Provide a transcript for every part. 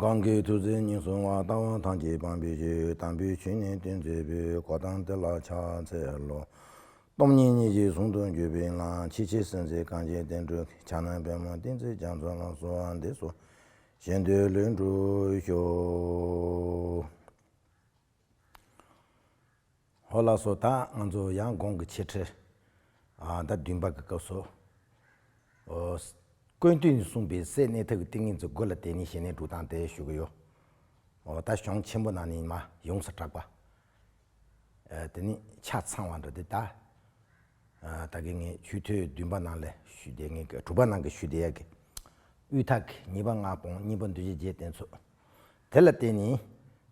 གང་གི་ཐུགས་བརྩེ་སྙིང་བསྲུང་བ་ལྟ་བ་དང་གྱི་སྤངས་པའི་གཞི་དམ་པོའི་ཆོས་ཉིད་བསྟན་མཛད་པའི་གོ་ཐང་དེ་ལ་ཕྱག་འཚལ་ལོ། སྟོང་ཉིད་གཉིས་ཀྱི་ཟུང་དུ་འཇུག་པའི་ངང་ཕྱི་ཕྱི་སེམས་ཅན་གངས་ཅན་བསྟན་འགྲོའི་ཕྱག་ན་པད་མོ་བསྟན་འཛིན་རྒྱ་མཚོ་ལ་གསོལ་བ་འདེབས་སོ། གཞན་དོན་ལེགས་འགྲུབ་ཤོག། ཧོ་ལགས་སོ་ད་ང་ཚོ་ཡང་དགོང་གི་ཆེ་ཁྲི་ཟླ་བདུན་པ་གི་སྐབས་སུ་ཀོན་ཏུན་གསུངས་པའི་སའི་གནས་ཐབས་ཀྱི་ཏིང་ངེ་འཛིན་དགོས་ལ་དེ་ནི་གཞི་གནས་དྲུག་དང་དེ་ཞུ་གི་ཡོད། ད་གཞུང་ཆེན་པོ་ནང་ནས་ཡིན་མ་ཡོངས་སུ་གྲགས་པ། དེ་ནི་ཆ་ཚང་བ་འདྲ་དེ་ད་ད་གི་ངས་ཆུ་ཐོད་བདུན་པ་ནང་ལས་ཞུ་བདེ་ངས་དྲུག་པ་ནང་གི་ཞུ་བདེ་ཡ་གི་དབུས་ཐག་གི་གཉིས་པ་སྔགས་སྤོང་གཉིས་པ་འདུལ་བྱེད་རྗེས་བསྟན་ཚུལ་དེ་ལ་བརྟེན་ནས།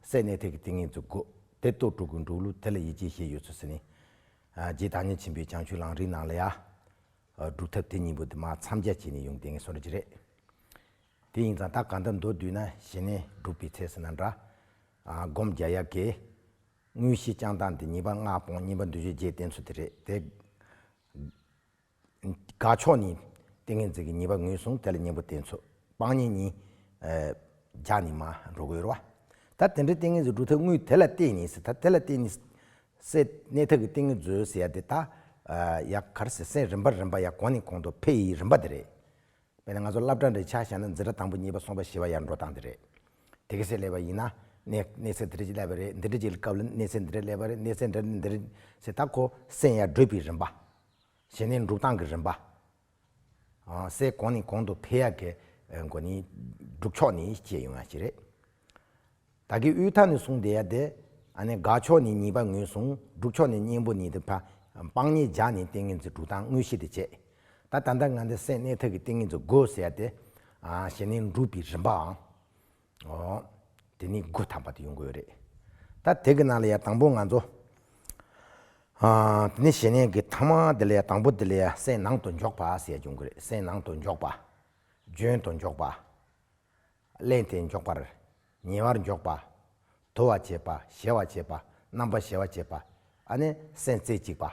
སའི་གནས་ཐིག་གི་ཏིང་ངེ་འཛུགས་སྒོ། དེ་གཏོར་དྲུག་གི་འབྲུག་གླུ་དེ་ལ་ཡི་གེ་ཞེས་ཡོད་ཚུལ་ཟིན། རྗེ་བདག་ཉིད་ཆེན་པོའི་བྱང་ཆུབ་ལང་རིའི་ནང་ལ་ཡ། སྒྲུབ་ཐབས་དེ་གཉིས་པོ་དེ་མ་འཚམས་རྒྱ་བྱས་ནས་ཡོང་དེ་ངེས་སོ་ར་གྱི་རེད། དེ་ཡིན་ཙང་ད་ག་འདི་མདོ་བསྡུས་ན་ཞེ་ནས་སྒྲུབ་པའི་ཚད་ཟིན་ན་འདྲ། སྒོམ་བརྒྱ་ཡ་གེ། དངོས་གཞི་བསྐྱང་སྟངས་དེ་ཉིད་པ་སྔགས་སྤོང་བསྙེན་པ་འདུས་བྱས་རྗེས་བསྟན་ཚུལ་དེ་རེད་དེ། དགའ་ཕྱོགས་ནི། ཏིང་ངེ་འཛིན་གྱི་ཉེས་པ་ངོས་བཟུང་དེ་ལ་གཉེན་པོ་བསྟེན་ཚུལ་སྤང་གཉེན་གཉིས། བརྒྱ་ནི་མ་འགྲོ་གོལ་བ། ད་དེ་འདྲའི་ཏིང་ངེ་འཛིན་འགྲུབ་ཐབས་དངོས་དེ་ལ་བརྟེན་ནས་སད་ད་དེ་ལ་བརྟེན་ནས་སད། གནས་ཐབས་ཀྱི་ཏིང་ངེ་འཛོལ་ཟེར་ཡ་དེ་ད་ཡ་གར་སེ་སེན་རིམ་པ་རིམ་པ་ཡ་གོང་ནས་གོང་དུ་འཕེལ་ཡི་རིམ་པ་དེ་རེད། དཔེར་ན་ང་ཚོ་བླ་བྲང་རེ་ཆགས་བཞག་ན་འཛིན་གྲྭ་དང་པོ་གཉིས་པ་གསུམ་པ་བཞི་བ་ཡར་འགྲོ་སྟངས་དེ་རེད། དེ་ག་སེ་སླེབས་པ་ཡིན་ན་གནས་གནས་སེ་འདི་རེ་ཅིག་སླེབས་པ་རེད་འདི་འདྲ་ཅིག་སྐབས་ལ་གནས་སེ་འདི་འདྲ་སླེབས་པ་རེད་གནས་སེ་འདྲ་འདི་འདྲ་རེད། སད་ད་ཁོ་སེན་ཡར་བགྲོད་པའི་རིམ་པ། གཞན་ནི་འབྲུག་ཐང་གི་རིམ་པ། སའི་གོང་ནི་གོང་དུ་འཕེལ་ཡག་གི་སྒོ་ནས་འབྲུག་ཕྱོགས་ནས་སྐྱེས་ཡོང་བ་ཞིག་རེད། ད་གིན་དབུས་མཐའ་ནས་བཟུང་བསྡད་ཡག་དེ། དགའ་ཕྱོགས་ནས་གཉིས་པ་ངོས་བཟུང་འབྲུག་ཕྱོགས་ནས་གཉེན་པོ་ནི་དེ། སྤང་གཉིས་རྒྱག་ནས་ཏིང་ངེ་འཛིན་འབྲུག་ཐང་དངོས་གཞི་དེ་བྱེད། ད་ད་ལྟ་ང་འདི་སའི་གནས་ཐད་ཀྱི་ཏིང་ངེ་འཛིན་དགོས་ཟེར་ཡག་དེ། གཞན་ནི་འབྲུག་པའི་རིམ་པའང། ཨོ། དེ་ནི་སྒོ་དམ་པ་དེ་ཡོང་གི་ཡོད་རེད། ད་དེ་གི་ནང་ལ་ཡང་དང་པོ་ང་ཚོ། དེ་ནས་གཞན་ནས་གི་ཐ་མ་དེ་ལ་ཡང་དང་པོ་དེ་ལ་ཡང་སེམས་ནང་དུ་འཇོག་པ་ཟེར་ཡ་འབྱུང་གི་རེད་སེམས་ནང་དུ་འཇོག་པ། བརྗོན་དུ་འཇོག་པ། གླེང་སྟེ་འཇོག་པར། ཉེ་བར་འཇོག་པ། དུ་བ་བྱེད་པ་གཞལ་བ་བྱེད་པ་རྣམ་པ་གཞལ་བ་བྱེད་པ། ཨ་ནི་སེམས་རྩེ་གཅིག་པ།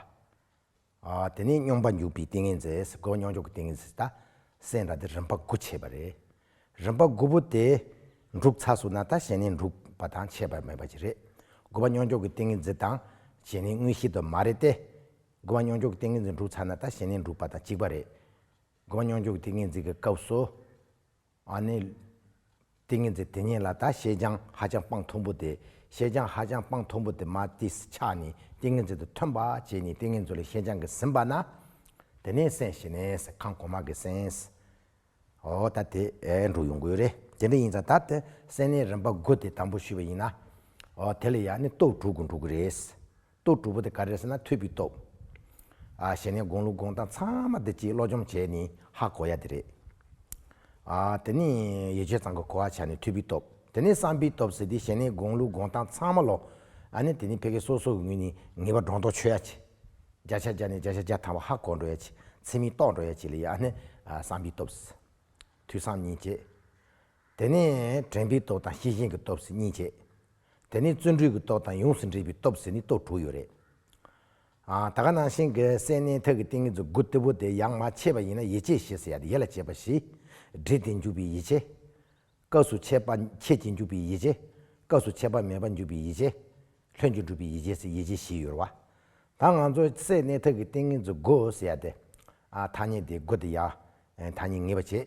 དེ་ནི་སྙོམས་པ་འཇུག་པའི་ཏིང་ངེ་འཛིན་སེ་གོལ་མཉམ་འཇོག་གི་ཏིང་ངེ་འཛིན་དང། སེམས་རང་སྟེ་རིམ་པ་དགུ་ཕྱེ་བ་རེད། རིམ་པ་དགུ་པོ་དེ། འབྲུག་ཚ་སུ་ན་དང་ཞེན་ནི་འབྲུག་པ་དང་ཁྱད་པར་མེད་པ་ཅིག་རེད། དགུ་བ་མཉམ་འཇོག་གི་ཏིང་ངེ་འཛིན་དང། ཞེན་ནི་དངོས་གཞི་དུ་མ་རེད་དེ། དགུ་བ་མཉམ་འཇོག་གི་ཏིང་ངེ་འཛིན་འབྲུག་ཚ་ན་དང་ཞེན་ནི་འབྲུག་པ་དང་གཅིག་པ་རེད། དགུ་བ་མཉམ་འཇོག་གི་ཏིང་ངེ་འཛིན་གྱི་སྐབས་སུ། ཨ་ནེ། ཏིང་ངེ་འཛིན་དེ་ཉིད་ལ་ད་ཤེས་བྱའང་ཧ་ཅང་སྤངས་མཐོང་པོ་དེ། ཤེས་བྱའང་ཧ་ཅང་སྤངས་མཐོང་པོ་དེ་མ་ཏིས་ཆགས་ནས་ཏིང་ངེ་འཛིན་དུ་ཐོན་པ་བྱས་ནས་ཏིང་ངེ་འཛུན་ལས་ཤེས་བྱའང་གིས་ཟིན་པ་ན། དེ་ནས་སེམས་ཞི་ནས་ཁང་གོང་མ་གིས་སེམས། ཨོ་ད་དེ་འགྲུབ་ཡོང་གི་རེད་དེ་འདྲ་ཡིན་ཙང་ད་དེ་སེམས་ནས་རིམ་པ་དགུ་དེ་དང་པོ་ཞུས་པ་ཡིན་ན། ཨོ་དེ་ལ་ཡང་ནི་སྟོབས་དྲུག་གིས་འགྲུབ་གི་རེད། གཏོ་གྲུ་བོ་དེ་ག་རེ་ཟེར་ན་ཐོད་པུའི་སྟོབས། གཞན་ནི་དགོངས་ལུགས་དགོངས་སྟངས་ཚང་མ་འདི་གཅིག་བློ་སྦྱོང་བྱས་ནི་ཧ་གོ་ཡ་འདི་རེད། དེ་ནི་ཡེ་ཆོད་ཚང་གི་གོ་བ་ཆ་ནི་ཐོད་པུའི་སྟོབས། དེ་ནི་བསམ་པའི་སྟོབས་ཟེར་ཏེ་གཞན་ནི་དགོངས་ལུགས་དགོངས་སྟངས་ཚང་མ་བློ། ནི་དེ་ནི་ཕལ་སྐད་སོ་སོ་གི་ངོས་ནས་ངེས་པ་སྒྲོ་འདོགས་ཆོད་ཡ་ཆེ། བརྒྱ་ཆ་བརྒྱ་ནས་བརྒྱ་ཆ་བརྒྱ་ཐང་བ་ཧ་གོ་འགྲོ་ཡ་ཆེ་ཚིག་མི་རྟོགས་འགྲོ་ཡ་ཆེ་ལ་ཡ་ནི་བསམ་པའི་སྟོབས། ཐོས་བསམ་ཉིད་བྱེད། དེ་ནི་དྲན་པའི་སྟོབས་དང་ཤེས་བཞིན་གྱི་སྟོབས་སུ་གཉིས་ཆད། དེ་ནི་བརྩོན་འགྲུས་ཀྱི་སྟོབས་དང་ཡོངས་སུ་འདྲིས་པའི་སྟོབས་སུ་ནི་སྟོབས་དྲུག་ཡོད་རེད། ད་ག་ནང་བཞིན་གྱི་སའི་སྣའི་ཐད་ཀྱི་ཏིང་ངེ་འཛུགས་དགུ་ལྟེ་བོ་དེ་ཡང་མ་ཆད་པ་ཡིན་ན་ཡིད་ཆེས་ཞེས་སུ་ཡ་དེ་ཡེ་ལ་བྱེད་པ་བཞི། འདྲིས་ཏེ་འཇུག་པའི་ཡིད་ཆེས། སྐབས་སུ་འཆད་པ་ཁྱེད་ཀྱིས་འཇུག་པའི་ཡིད་ཆེས། སྐབས་སུ་འཆད་པ་མེད་པ་འཇུག་པའི་ཡིད་ཆེས། ལྷན་ཅིག་འགྲུབ་པའི་ཡིད་ཆེས་སུ་ཡིད་ཆེས་བཞི་ཡོད་རེད། ད་ང་ཚོ་སའི་སྣའི་ཐད་ཀྱི་ཏིང་ངེ་འཛུགས་དགུ་སུ་ཡ་དེ། ཐ་སྙད་དེ་དགུ་དེ་ཡ། ཐ་སྙད་ངེས་པ་བྱེད།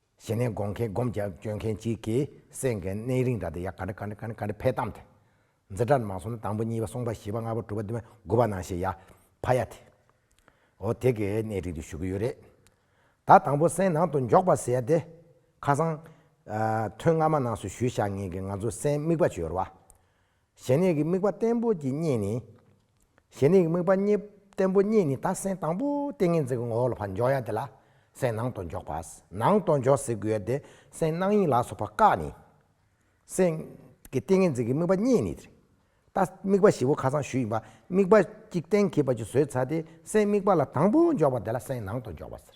གཞི་ནས་དགོངས་མཁན་སྒོམ་རྒྱབ་སྐྱོད་མཁན་གཅིག་གིས་བསད་མཁན་གནས་རིང་དག་དེ་ཡག་ག་འདྲ་ག་འདྲ་ག་འདྲ་ག་འདྲ་འཕེལ་གཏམ་དེ། འཛི་སྒྲར་མ་སོང་ན་དང་པོ་གཉིས་པ་གསུམ་པ་བཞི་པ་ལྔ་པ་དྲུག་པ་བདུན་པ་དགུ་པ་ནང་བཞིན་ཡ། ཕ་ཡ་དེ། འོ་དེ་གས་གནས་རིང་དུ་བཞུགས་ཀྱི་ཡོད་རེད། ད་དང་པོ་སའི་ནང་དུ་འཇོག་པ་ཟེར་ཏེ། ཁ་སང། ཐོན་སྔ་མ་ནང་སུ་ཞུས་བཞག་ངེས་ཀྱི་ང་ཚོ་སའི་དམིགས་པ་བྱོལ་བ། ཞེ་གནས་ཀྱི་དམིགས་པ་བརྟན་པོ་གྱི་གཉིས་ནི། ཞེ་གནས་ཀྱི་དམིགས་པ་བརྟན་པོ་གཉིས་ནི་ད་སེམས་དང་པོ་ཏིང་ངེ་འཛིན་གྱི་ངོ་བོ་ལ་བར་འཇོག་ཡ་དེ་ལ་སེམས་ནང་དུ་འཇོག་པ། ནང་དུ་འཇོག་ཟེར་དགོས་ཡ་དེ་སེམས་སྣང་ཡིན་ལགས་སོ་བ་ཀ་ནི། སེམས་ཀྱི་ཏིང་ངེ་འཛིན་གྱི་དམིགས་པ་གཉིས་ནི། ད་དམིགས་པ་བཞི་བོ་ཁ་སང་ཞུས་ཡིན་པ་དམིགས་པ་གཅིག་གཏན་འཁེལ་བ་གཅིག་བཟོས་ཚར་དེ་སེམས་དམིགས་པ་ལ་དང་པོ་འཇོག་པ་དེ་ལ་སེམས་ནང་དུ་འཇོག་པ་ཟེར།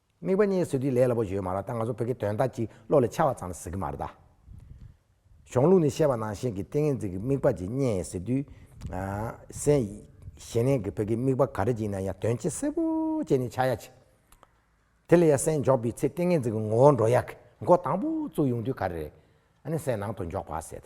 དམིགས་པ་གཉིས་བཟོས་དུས་ལས་སླ་པོ་ཞུས་མ་རག་ད་ང་ཚོ་བོད་ཀྱི་དོན་དག་གཅིག་བློ་ལས་འཆར་བ་ཙམ་ལ་ཟེར་གྱི་མ་རེད་ད། གཞོང་ལུགས་ནི་བཤད་པ་ནང་བཞིན་གྱི་ཏིང་ངེ་འཛིན་གྱི་དམིགས་པ་ཅིག་རྙེད་ཟེར་དུས། སན། ཞེ་ནས་ཀྱི་བོད་ཀྱི་དམིགས་པ་ག་རེ་ཅིག་ཡིན་ན་ཡང་དོན་སྤྱི་གསལ་པོ་ཅན་ནི་འཆར་ཡ་ཆེ། དེ་ལ་ཡང་སན་འཇོག་པའི་ཚེ་ཏིང་ངེ་འཛིན་གྱི་ངོ་བོ་འགྲོ་ཡག་གི་མགོ་དང་པོ་བཙུགས་ཡོང་དུས་ག་རེ་རེད། ཨ་ནི་སན་ནང་དུ་འཇོག་པ་ཟེར།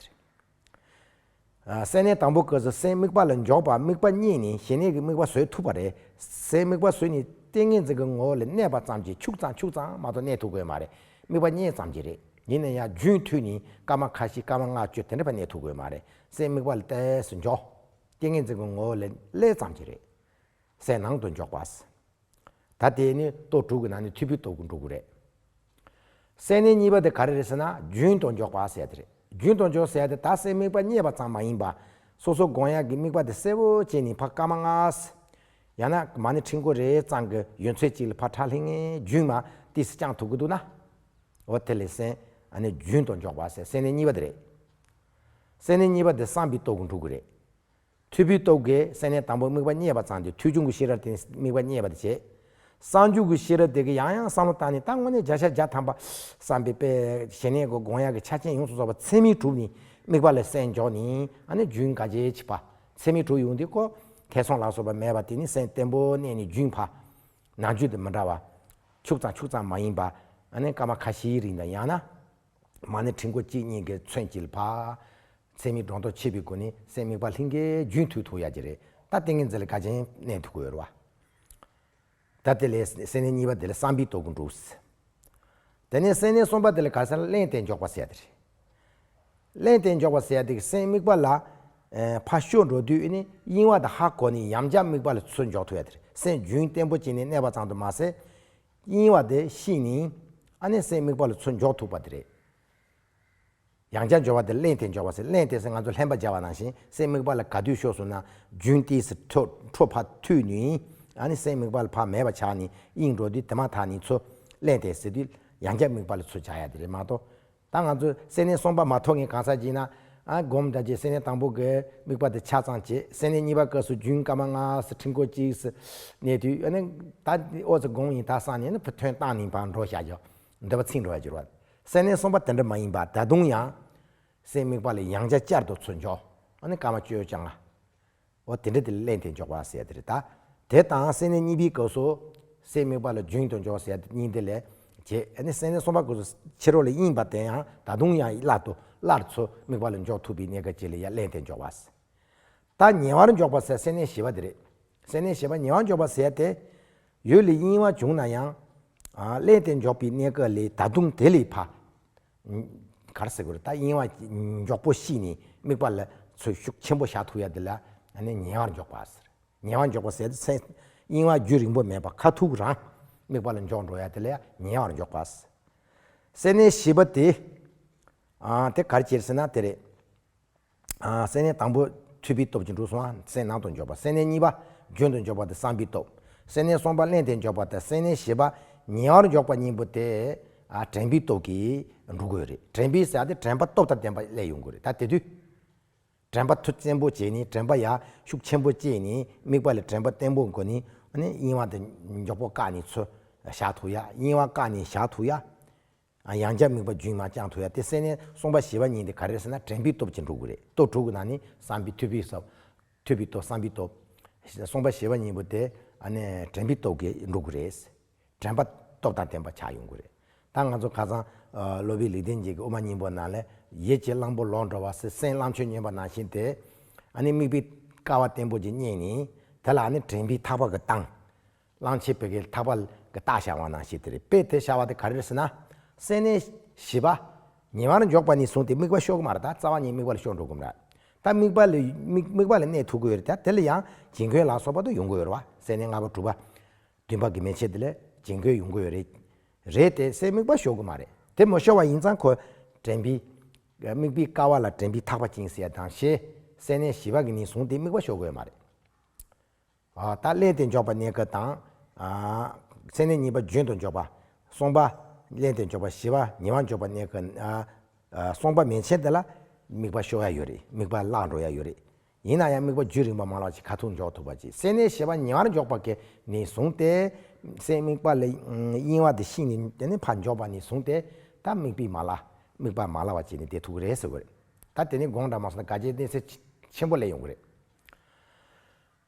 སའི་གནས་དང་པོ་ཀུ་ཙི་སའི་དམིགས་པ་ལ་འཇོག་པ་དམིགས་པ་གཉིས་ནི་ཞི་གནས་ཀྱི་དམིགས་པ་བཟོད་ཐུབ་པ་རེད། སའི་དམིགས་པ་བཟོད་ནི་ཏིང་ངེ་འཛིན་གྱི་ངོ་བོ་ལ་གནས་པ་ཙམ་གྱིས་ཕྱུག་ཙང་ཕྱུག་ཙང་མ་གཏོགས་གནས་ཐུབ་དགོས་མ་རེད་དམིགས་པ་གཉིས་ཙམ་གྱིས་རེད། ཡིན་ན་ཡང་རྒྱུན་མཐུད་ནི་སྐར་མ་ཁ་ཤི་སྐར་མ་ལྔ་བཅུ་དེ་འདྲ་བ་གནས་ཐུབ་དགོས་མ་རེད་སའི་དམིགས་པ་ལ་ཏས་སུ་འཇོག། ཏིང་ངེ་འཛིན་གྱི་ངོ་བོ་ལ་ཀླད་ཙམ་གྱིས་རེད། སའི་ནང་དུ་འཇོག་པ། ད་དེས་ནི་ལྟོ་དྲུག་གི་ནང་ནས་ཐུ་བྷི་ལྟོ་གུ་འགྲོ་གུ་རེད། སད་ནས་གཉིས་པ་དེ་ག་རེ་རེད་ཟེར་ན་རྒྱུན་དང་འཇོག་པ་སད་དེ་རེད་རྒྱུན་དང་འཇོག་སད་དེ་ད་སད་དམིགས་པ་རྙེད་པ་ཙམ་མ་ཡིན་པ། སོ་སོ་དགོངས་ཡག་གི་དམིགས་པ་དེ་གསལ་བོ་བྱས་ནས་ཕ་སྐ་མ་ལྔ། ཡང་ན་མ་ནི་ཁྲིག་མགོ་རེ་ཙམ་གྱི་ཡོན་ཚོད་ཅིག་ལ་ཕ་ཁྲག་ལྷིང་ངེ་རྒྱུན་མ་ཏིས་བསྐྱངས་ཐུབ་གི་འདུག་ན། འོ་དེ་ལས་སད་ནས་རྒྱུན་དང་འཇོག་པ་སད་སད་ནས་གཉིས་པ་དེ་རེད། སད་ནས་གཉིས་པ་དེ་སངས་བྷི་ལྟོ་གུ་འགྲོ་གུ་རེད། མཐུས་བུའི་རྟོག་གེའི་སེམས་ནི་དང་པོ་དམིགས་པ་རྙེད་པ་ཙམ་གྱིས་མཐུས་འབྱུང་གི་ཤེས་རབ་དེ་ནི་དམིགས་པ་རྙེད་པར་བྱེད། གསང་འཇུག་གི་ཤེས་རབ་དེ་གིས་ཡང་ཡང་བསམ་བློ་བཏང་ནས་ད་དངོས་གནས་བརྒྱ་ཆ་བརྒྱ་ཐམ་པ་བསམ་པའི་དཔེ། ཞི་གནས་ཀྱི་དགོངས་ཡངས་ཀྱི་ཆ་རྐྱེན་ཡོངས་སུ་རྫོགས་པ་ཚད་མེད་དྲུག་ནི་དམིགས་པ་ལས་སེམས་འཇོག་ནི་ཨ་ནི་རྒྱུན་འགའ་ཇེ་ཆེ་བ། ཚད་མེད་དྲུག་ཡོང་དུས་ཀོ། ཐེ་ཚོམ་ལ་སོགས་པ་མེད་པ་དེ་ནི་སེམས་བརྟན་པོའི་གནས་ནི་རྒྱུན་བ། ནང་རྒྱུད་དུ་མི་འདྲ་བ། འཁྱུག་ཙམ་འཁྱུག་ཙམ་མ་ཡིན་པ། ཨ་ནི་སྐར་མ་ཁ་བཞིའི་རིང་དང་ཡང་ན། མ་ནི་ཕྲེང་སྒོ་གཅིག་གཉིས་ཀྱི་ཚོན་གྱིས་བ། ཚད་མིག་སྒྲོ་འདོགས་ཕྱེས་པའི་སྒོ་ནས་སད་མིག་པ་ལྷིང་གའི་རྒྱུན་མཐུད་ཐུབ་ཡག་གི་རེད་ད་ཏིང་ངེ་འཛིན་ལ་དགའ་ཆེན་གནས་ཐུབ་དགོས་རེད་བ། ད་དེ་ལས་སད་ནས་གཉིས་པ་དེ་ལ་བསམ་པའི་དོ་ཀུན་འགྲོ་ཟེར། དེ་ནས་སད་ནས་གསུམ་པ་དེ་ལ་ག་ས་ལ་གླེང་སྟེ་འཇོག་པ་ཟེར་ཡག་གི་རེད། གླེང་སྟེ་འཇོག་པ་ཟེར་ཡག་དེ་སད་མིག་པ་ལ། ཕ་ཤོ་འགྲོ་དུས་ནི་གཡེང་བ་དང་ཧ་གོ་ནས་ཡམ་ཆག་མིག་པ་ལ་ཚུར་འཇོག་ཐུབ་ཡག་གི་རེད་སད་རྒྱུན་བརྟན་པོ་བྱས་ནས་གནས་པ་ཙང་དུ་མ་ཟད། གཡེང་བ་དེ་ཤི་ནས་ཨ་ནེ་སད་མིག་པ་ལ་ཚུར་འཇོག་ཐུབ་པ་དེ་རེད། ཡང་བསྐྱར་སྦྱོར་བ་དེ་གླེང་དེ་འཇོག་པ་ཟེར་གླེང་དེ་ཟེར་ང་ཚོ་ལྷན་པ་སྦྱར་བ་ནང་བཞིན་སེམས་དམིགས་པ་ལ་དགའ་དུས་ཤོག་ཟུར་ན་རྒྱུན་ཏི་ཟེར་འཕྲོ་ཕ་ཐུལ་ནུས་ཡིན་ཨ་ནི་སེམས་དམིགས་པ་ལ་བག་མེད་པ་ཆགས་ནི་དབྱིངས་འགྲོ་དུས་དེ་མ་ཐག་ནི་ཚོ། གླེང་དེ་ཟེར་དུས་ཡང་བསྐྱར་དམིགས་པ་ལ་ཚུར་སྦྱར་ཡ་དེ་རེད་མ་གཏོགས། ད་ང་ཚོ་སེར་སྣའི་གསོང་པ་མ་ཐོག་ངས་གང་ཟག་གཅིག་ན། སྒོམ་འདྲ་ཅེས་སེར་སྣའི་དང་པོ་གི་དམིགས་པ་དེ་ཆ་ཚང་བྱེད་སེར་སྣའི་གཉིས་པ་སྐབས་སུ་རྒྱུན་སྐར་མ་ལྔ་ཟེར་ཁྲིམས་སྐོར་གཅིག་ཟེར་གནས་དུས་ཨ་ནི། ད་འོ་ཟེར་སྒོམ་ཡིན་ད་གསང་ནི་ཨ་ནི་ཐོན་སྟངས་ནི་བག་འགྲོ་བཞག་རྒྱག། འདོད་པ་ཚིག་འགྲོ་བར་འགྱུར་བ། སེར་སྣའི་གསུངས་པ་དེ་འདྲ་མ་ཡིན་པ་ད་དུང་ཡང། སའི་དམིགས་པ་ལས་ཡང་བྱ་བཅར་དུ་ཚུར་འཇོག། ཨོ་ནི་ཀ་མ་ཅོའི་བཅའ་ང། འོ་དེ་འདྲ་དེ་ལ་གླེང་དེ་འཇོག་པ་ཟེར་དེ་རེད་ད། དེ་དང་སེར་སྣའི་གཉིས་པའི་སྐབས་སུ། སའི་དམིགས་པ་ལ་རྒྱུན་དུ་འཇོག་ཟེར་དེ་གཉིས་དེ་ལས། རྗེས་ཨེ་ནི་སེར་སྣའི་གསུངས་པ་སྐབས་སུ་ཕྱི་རོལ་ལ་གཡེངས་པ་དེ་ཡང་ད་དུང་ཡང་སླར་དུ་སླར་ཚུར་དམིགས་པ་ལ་འཇོག་ཐུབ་པའི་གནད་ཀ་ཅི་ལ་ཡ་གླེང་དེ་འཇོག་པ། ད་ཉེ་བར་འཇོག་པ་ཟེར་སེར་སྣའི་བཞི་པ་དེ་རེད། སེར་སྣའི་བཞི་པ་ཉེ་བར་འཇོག་པ་ཟེར་དེ། ཡོད་ལས་གཉིས་བ་བྱུང་ན་ཡང། གླན་དེ་འཇོག་པའི་གནས་སྐབས་ལས་ད་དུང་དེ་ལས་ཕ། གར་སེ་གོལ་ད་གཡེང་བ་མགྱོགས་པོ་ཤི་ནས་དམིགས་པ་ལ་ཚོས་ཤུགས་ཆེན་པོ་བཞག་ཐུབ་ཡ་དེ་ལ་ནི་ཉེ་བར་འཇོག་པ་ཟེར། ཉེ་བར་འཇོག་པ་ཟེར་ཚེ། གཡེང་བ་རྒྱུ་རིང་པོ་མེད་པར་ཁ་ཐུག་རང་དམིགས་པ་ལ་འཇོག་འགྲོ་ཡ་དེ་ལ་ཉེ་བར་འཇོག་པ་ཟེར། སེར་སྣའི་བྱིས་པ་དེ། དེ་གར་གྱེར་སྲིད་ན་དེ་རེད། སེར་སྣའི་དང་པོ། ཐུབ་པའི་སྟོབས་ཀྱིས་འབྲུ་གསུམ་སེར་སྣ་དང་འཇོག་པ་སེར་སྣའི་གཉིས་པ། རྒྱུན་དུ་འཇོག་པ་སྟེ་བསམ་པའི་སྟོབས། སེར་སྣའི་གསུམ་པ་བརླན་ཏེ་འཇོག་པ་སྟེ་སེར་སྣའི་བཞི་པ། ཉེ་བར་འཇོག་པ་གཉིས་པོ་སྟེ། དྲན་པའི་སྟོབས་ཀྱིས་འབྲུ་དགོས་རེད། དྲན་པའི་ཟེར་བ་སྟེ་དྲན་པ་སྟོབས་དང་ལྡན་པ་སླད་ཡོང་དགོས་རེད་ད་དེ་དུས། དྲན་པ་མཐུ་བཙན་པོ་བྱས་ནས་དྲན་པ་ཡར་ཤུགས་ཆེན་པོ་སྐྱེས་ནས་དམིགས་པ་ལ་དྲན་པ་བརྟན་པོ་དགོས་ནས། གཡེང་བ་དང་འཇོག་པོ་བཀག་ནས་ཚུར་བཞག་ཐུབ་ཡ་གཡེང་བ་བཀག་ནས་བཞག་ཐུབ་ཡ། ཡང་བསྐྱར་དམིགས་པ་རྒྱུན་མ་བསྐྱངས་ཐུ་ཡ་དེ་སེ་ནའི་གསུངས་པ་ཞེས་པ་ཉིད་འདི་ག་རེད་ཟེར་ན་དྲན་པའི་སྟོབས་ཀྱིས་འགྲུབ་དགོས་རེད་ལྟོ་དྲུག་གི་ནང་ནི་བསམ་པའི་ཐུ་བྷིའི་སོབས། ཐུ་བྷིའི་སྟོབས་བསམ་པའི་སྟོབས། གསུངས་པ་ཞེས་པ་གཉིས་པོ་དེ་དྲན་པའི་སྟོབས་ཀྱིས་འགྲུབ་དགོས་རེད། དྲན་པ་སྟོབས་དང་ལྡན་པ་ཆགས་ཡོང་དགོས་རེད། ད་ང་ཚོ་ཁ་སང་སློབ་དཔོན་ལེགས་ལྡན་འབྱེད་ཀྱི་དབུ་མ་སྙིང་པོ་ནང་ལས་ཡིད་ཀྱི་གླང་པོ་ལོག་འགྲོ་བ་སེ་སེན་གླང་ཆོས་ཉོན་པ་ནང་བཞིན་དེ། དམིགས་པའི་ཀ་བ་བརྟན་པོ་ཅིག་རྙེད་ནས་དེ་ལ་དྲན་པའི་ཐག་པ་གི་བཏང། གླང་ཆེན་བོད་སྐད་དག་པ་གི་རྟགས་བྱ་བ་ནང་ཞིག་དེ་རེད་དཔེ་དེ་བྱ་བ་དེ་ག་རེ་རེད་ཟེར་ན། སེམས་ནི། བཞི་པ། ཉི་མར་འཇོག་པ་ནས་བཟུང་སྟེ་དམིགས་པ་ཤོར་གི་མ་རེད་ད་རྩ་བ་ཉིད་དམིགས་པ་ལ་ཤོར་འགྲོ་གི་མ་རེད། ད་དམིགས་པ་ལ་དམིགས་པ་ལ་གནས་ཐུབ་གི་ཡོད་རེད་དེ་ལ་ཡང་བྱིང་རྒོད་ལ་སོགས་པ་དུ་ཡོང་གི་ཡོད་རེད་བ་སེམས་ནི་ལྔ་པ་དྲུག་པ། བདུན་པ་གི་མན་ཆད་དེ་ལས་བྱིང་རྒོད་ཡོང་གི་ཡོད་རེད། རེད་དེ་སེམས་དམིགས་པ་ཤོར་གི་མ་རེད་དེ་མི་ཤོར་བ་ཡིན་ཙང་ཁོ། དྲན་པའི། དམིགས་པའི་ཀ་བ་ལ་དྲན་པའི་ཐག་པ་བཅིངས་ཟེར་ཡ་དང་ཞེས་སེམས་ནི་བཞི་པ་གི་ནས་བཟུང་སྟེ་དམིགས་པ་ཤོར་གི་ཡོད་མ་རེད། རྟགས་བསླད་དེ་འཇོག་པ་གནས་སྐབས་དང། ཚད་མའི་གཉིས་པ་རྒྱུན་དུ་འཇོག་པ། སོང་པ། བསླད་དེ་འཇོག་པ་བཞི་བ་ཉེ་བར་འཇོག་པ་གནས་སྐབས། སོང་པ་མན་ཆད་འདི་ལ། དམིགས་པ་ཤོར་ཡ་ཡོད་རེད་དམིགས་པ་བརླག་འགྲོ་ཡ་ཡོད་རེད། ཡིན་ན་ཡང་དམིགས་པ་རྒྱུད་རིང་བ་མ་བརླག་ཅིག་ཁ་ཐུག་འཇོག་ཐུབ་པ་ཅིག་སེལ་ནས་བཞི་བ་ཉེ་བར་འཇོག་པ་གནས་བཟུང་སྟེ། སེལ་དམིགས་པ་ལས་གཡེང་བ་དེ་ཤི་ནས་དེ་ནས་ཕར་འཇོག་པ་ནས་བཟུང་སྟེ། ད་དམིགས་པས་མ་བརླག། དམིགས་པ་མ་བརླག་བ་བྱས་ནས་དེ་ཐུག་གི་རེད་ཟེར་དགོས་རེད། ད་དེ་ནས་དགོངས་འདྲ་མ་སོང་ན་དགའ་བྱེད་གནས་ཚད་ཆེན་པོ་ལས་ཡོང་གི་རེད།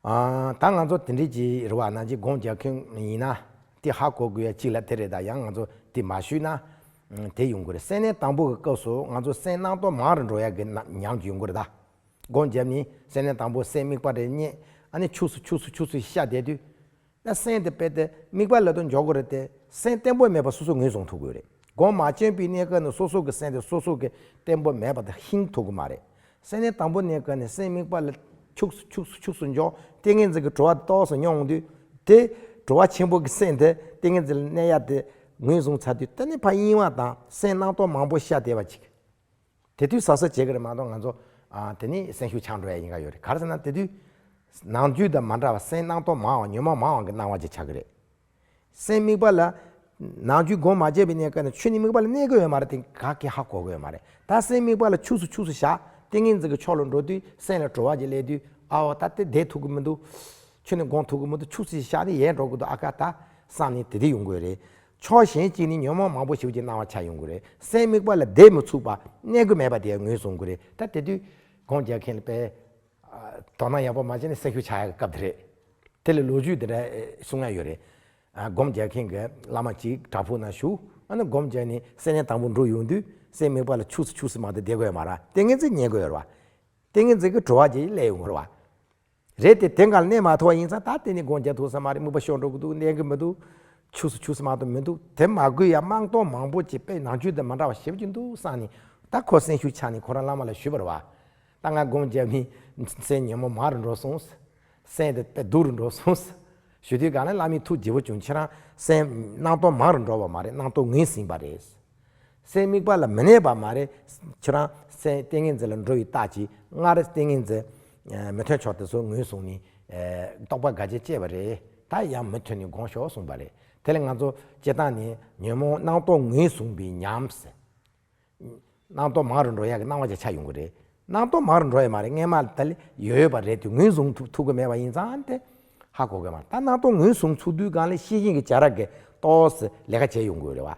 ད་ང་ཚོ་དེ་འདྲའི་ཅི་རེད་བ་ན་ཅིག་དགོངས་རྒྱག་མཁན་ཡིན་ན། དེ་ཧ་གོ་དགོས་ཡ་གཅིག་ལ་དེ་རེད་ད་ཡང་ང་ཚོ་དེ་མ་ཞུས་ན། དེ་ཡོང་གི་རེད་སེམས་ནད་དང་པོ་གི་སྐབས་སུ་ང་ཚོ་སེམས་སྣང་སྟོང་མང་རེ་འགྲོ་ཡག་གི་མྱངས་ཀྱི་ཡོང་གི་རེད་ད། དགོངས་རྒྱབ་ནི་སེམས་ནད་དང་པོ་སེམས་དམིགས་པ་རེ་རྙེད་ཨ་ནི་ཆུགས་སུ་ཆུགས་སུ་ཆུགས་སུ་ཤ་བསྡད་དུས། ན་སེམས་དེ་དཔེ་དེབ་དམིགས་པ་ལས་དོན་འཇོག་དགོས་རེད་དེ། སེམས་བརྟན་པོ་མེད་པ་སོ་སོས་ངོས་བཟུང་ཐུབ་དགོས་རེད། སྒོ་མ་ཆེན་པོའི་གནས་སྐབས་ནི་སོ་སོ་གི་སེམས་དེ་སོ་སོ་གི་བརྟན་པོ་མེད་པ་དེ་ཤིན་ཐུ་གི་མ་རེད། སེམས་གནས་དང་པོ་གནས་སྐབས་ནི་སེམས་དམིགས་པ་ལས་འཁྱུགས་སུ་འཁྱུགས་སུ་འཁྱུགས་སུ་འཇོག་ཏེ་ངེས་འཛིན་གྱི་བྲོ་བ་དེ་རྟོགས་སུ་མྱོང་དུས། དེ། བྲོ་བ་ཆེན་པོ་གི་སེམས་དེ་ཏེ་ངེས་འཛིན་ལ་གནས་ཡ་དེ་ངོས་བཟུང་ཚར་དུས་ད་ནི་ཕ་གཡེང་བ་དང་སེམས་སྣང་སྟོང་མང་པོ་ཤ་དེ་བ་ཅིག་དེ་དུས་ཟ་ཟ་བྱེད་ཀྱི་རེད་མ་གཏོགས་ང་ཚོ། དེ་ནི་སེམས་ཤུགས་ཆག་འགྲོ་ཡ་ཡིན་ག་ཡོད་རེད་ག་རེ་ཟེར་ན་དེ་དུས། ནང་རྒྱུད་དང་མ་འདྲ་བ་སེམས་སྣང་སྟོང་མའང་ཉོན་མོངས་མའང་གི་སྣང་བ་ཅིག་ཆགས་ཀྱི་རེད། སེམས་དམིགས་པ་ལ། ནང་རྒྱུད་སྒོ་མ་འབྱེད་པའི་གནས་སྐབས་ནས་ཆོས་ནི་དམིགས་པ་ལ་གནས་གི་ཡོད་མ་རེད་དེ་ག་གི་ཧ་གོ་གི་ཡོད་མ་རེད་ད་སེམས་དམིགས་པ་ལ་ཆུགས་སུ་ཆུགས་སུ་བཞག་ཏིང་ངེ་འཛིན་གྱི་ཕྱོགས་ལ་འགྲོ་དུས་སེམས་ལ་དྲོ་བ་ཅིག་སླེབས་དུས་ཨ་འོ་ད་དེ་བསྡད་ཐུབ་གི་མི་འདུག། ཆོས་ནི་དགོངས་ཐུབ་གི་མི་འདུག་ཆུགས་སུ་ཞིག་བཞག་ནི་ཡལ་འགྲོ་གི་འདུག་ཨ་ཀ་ད། བསམ་ནི་དེ་དུས་ཡོང་གི་ཡོད་རེད། ཕྱོགས་གཞན་གཅིག་ནི་ཉོན་མོངས་མང་པོ་ཞིག་གི་སྣང་བ་ཆགས་ཡོང་གི་རེད། སེམས་དམིགས་པ་ལ་བདེ་མི་ཚུགས་པ་གནས་དགོས་མེད་པ་དེ་ཡང་ངོས་བཟུང་གི་རེད། ད་དེ་དུས་སྒོང་རྒྱག་མཁན་པས་དོ་སྣང་ཡག་པོ་མ་བྱས་ན་སེལ་ཤུགས་ཆག་ཡག་གི་སྐབས་དེ་རེད། དེ་ལས་ལོ་རྒྱུས་དེ་འདྲ་གསུང་ན་ཡོད་རེད། སྒོམ་རྒྱག་མཁན་གྱི་བླ་མ་ཅིག་བྲག་ཕུག་ན་བཞུགས། ཨ་ན་སྒོམ་རྒྱག་ནི་སེམས་ནད་དང་པོ་འགྲོ་ཡོང་དུས་སེམས་དམིགས་པ་ལ་ཆུགས་སུ་ཆུགས་སུ་མ་གཏོགས་བདེ་དགོས་ཡོད་མ་ར། ཏིང་ངེ་འཛིན་ཉལ་དགོས་ཡོད་ར། ཏིང་ངེ་འཛིན་གྱི་བྲོ་བ་དེ་ལས་ཡོང་གི་ར། རེད་དེ་དེ་འགའ་ལ་གནས་མ་ཐོ་བ་ཡིན་ཙང་ད་དེ་ནས་དགོངས་འགལ་ཐུག་ས་མ་རེད་དམིགས་པ་ཤོར་འགྲོ་གི་འདུག་གནས་གི་མི་འདུག་ཆུགས་སུ་ཆུགས་ས་མ་ཏོ་མི་འདུག་དེ་མ་དགོས་ཡ་དམངས་གཏོང་མང་པོ་ཅིག་པས་ནང་ཆོས་དེ་མ་འདྲ་བ་ཞེབས་ཀྱི་འདུག་བསམ་ནས་ད་ཁོ་སེམས་ཤུགས་ཆག་ནས་ཁོ་རང་བླ་མ་ལ་ཞུས་པར་བ། ད་ང་དགོངས་འགལ་མིན། སེམས་ཉོན་མོངས་མ་རུ་འགྲོ་སོང། སེམས་དེ་དཔེ་སྡུག་རུ་འགྲོ་སོང། ཞུ་དུས་གང་ལ་བླ་མའི་ཐུགས་རྗེ་བོ་བྱུང་ཁྱེད་རང་སེམས་སྣང་སྟོང་མང་རུ་འགྲོ་བ་མ་རེད་སྣང་སྟོང་ངོས་ཟིན་པ་རེད། སའི་དམིགས་པ་ལ་མི་གནས་པ་མ་རེད། ཁྱོད་རང་སའི་ཏིང་ངེ་འཛིན་ལ་འགྲོ་བའི་རྟགས་ཀྱིས་སྔར་ཏིང་ངེ་འཛིན་མི་ཐོན་ཆོག་དེ་སོགས་ངོས་བཟུང་ནས་རྟོག་པ་འགའ་ཆ་བཅད་པ་རེད། ད་ཡང་མི་ཐོན་ནས་དགོངས་ཞོག་གསུངས་པ་རེད། དེ་ལས་ང་ཚོ་སྤྱིར་བཏང་ནས་ཉོན་མོངས་སྣང་རྟོག་ངོས་བཟུང་པའི་ཉམས། སྣང་རྟོག་མང་རུ་འགྲོ་ཡག་གི་སྣང་བ་ཆ་ཆག་ཡོང་གི་རེད། སྣང་རྟོག་མང་རུ་འགྲོ་ཡ་མ་རེད་རྔན་མ་ད་ལི་ཡོད་ཡོད་པ་རེད་དེ་ངོས་བཟུང་ཐུབ་གི་མེད་པ་ཡིན་ཙང་སྟེ། ཧ་གོ་གི་མ་རེད་ད་སྣང་རྟོག་ངོས་བཟུང་ཚུལ་དུས་སྒང་ལས་ཤེས་ཡིན་གྱི་བྱ་ར་གི་རྟོགས་སི་ལས་ཀ་བྱས་ཡོང་དགོས་རེད་བ།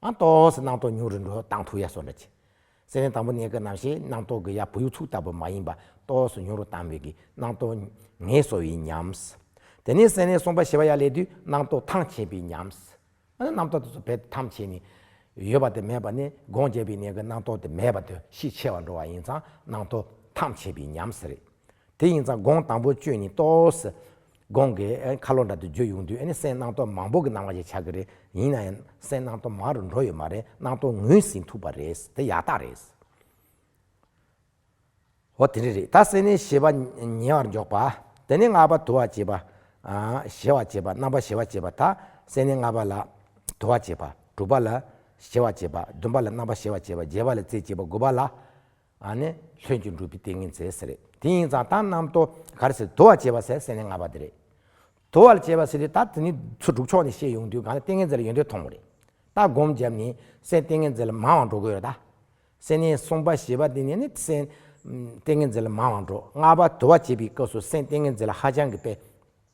ཨང་ཏོག་སེ་སྣང་ཏོག་ཉུང་རུ་འགྲོ་སྟངས་ཐུག་ཡ་སོགས་འདྲ་གྱིས། སེ་རན་དང་པོ་གནས་སྐབས་ནམ་ཞིག་སྣང་ཏོག་གི་ཡ་བུ་ཡུག་ཚུགས་ལྟ་བུ་མ་ཡིན་པ་ཏོག་སུ་ཉུང་རུ་བཏང་མོད་ཀྱི་སྣང་ཏོག་ངེས་སོ་ཡིན་སྙམས། དེ་ནས་སེ་རན་སོང་པ་ཞེས་པ་ཡ་ལས་དུས་སྣང་ཏོག་ཐང་ཆད་པའི་སྙམས། ཨ་ན་སྣང་ཏོག་དེ་ཚོ་བེད་ཐམ་ཆད་ནས་ཡོད་པ་དེ་མེད་པ་ནི་སྒོང་རྒྱལ་པའི་གནས་སྐབས་སྣང་ཏོག་དེ་མེད་པ་དུ་ཤི་ཆད་བར་འགྲོ་བ་ཡིན་ཙང་སྣང་ཏོག་ཐང་ཆད་པའི་སྙམས། དེ་ཡིན་ཙང་སྒོང་དང་པོ་གཅོད་ནས་ཏོག་སེ་གོང་གི་ཁ་ལོ་འདྲ་དེ་བརྗོད་ཡོང་དུས་ཨ་ནི་སེམས་སྣང་སྟོང་མང་པོ་གི་སྣང་བ་ཞིག་ཆགས་ཀྱི་རེད་ཡིན་ན་ཡང་སེམས་སྣང་སྟོང་མང་རུ་འགྲོ་ཡོད་མ་རེད་སྣང་སྟོང་ངོས་ཟིན་ཐུབ་པ་རེད་དེ་ཡག་རྟགས་རེད། ཨོ་དེ་འདྲ་རེད་ད་སེམས་ནི་ཞེས་པ་ཉེ་བར་འཇོག་པ། དེ་ནས་ལྔ་པ་དུ་བ་བྱེད་པ། གཞལ་བ་བྱེད་པ་རྣམ་པར་གཞལ་བ་བྱེད་པ་དག་སེམས་ནི་ལྔ་པ་ལ། དུ་བ་བྱེད་པ། དྲུག་པ་ལ། གཞལ་བ་བྱེད་པ། བདུན་པ་ལ་རྣམ་པར་གཞལ་བ་བྱེད་པ་བརྒྱད་པ་ལ་རྩེ་བྱེད་པ་དགུ་པ་ལ། ནས་ལྷོད་ཀྱིས་འགྲུབ་པའི་ཏིང་ངེ་འཛིན་ཟེར། དེ་ཡིན་ཙང་རྟགས་རྣམས་དོ་གར་ཟེར་དོ་བར་བྱེད་པ་ཟེར་ཟེར་ནས་ངར་བ་དེ་རེད། དོ་བར་བྱེད་པ་ཟེར་དུས་རྟགས་དེ་ནི་ཚོ་དྲུག་ཕྱོགས་ནས་བཤད་ཡོང་དུས་གང་ལ་ཏིང་ངེ་འཛིན་ལ་ཡོད་འདོད་མཐོང་བ་རེད། ལྟ་སྒོམ་བརྒྱབ་ནས་སེམས་ཏིང་ངེ་འཛིན་ལ་མང་བ་འགྲོ་དགོས་རེད། སེམས་ནི་གསུམ་པ་ཞེས་པ་དེ་ནས་ནི་སེམས་ཏིང་ངེ་འཛིན་ལ་མང་བ་འགྲོ། ལྔ་པ་དོ་བར་བྱེད་པའི་སྐབས་སུ་སེམས་ཏིང་ངེ་འཛིན་ལ་ཧ་ཅང་གི་དཔེ།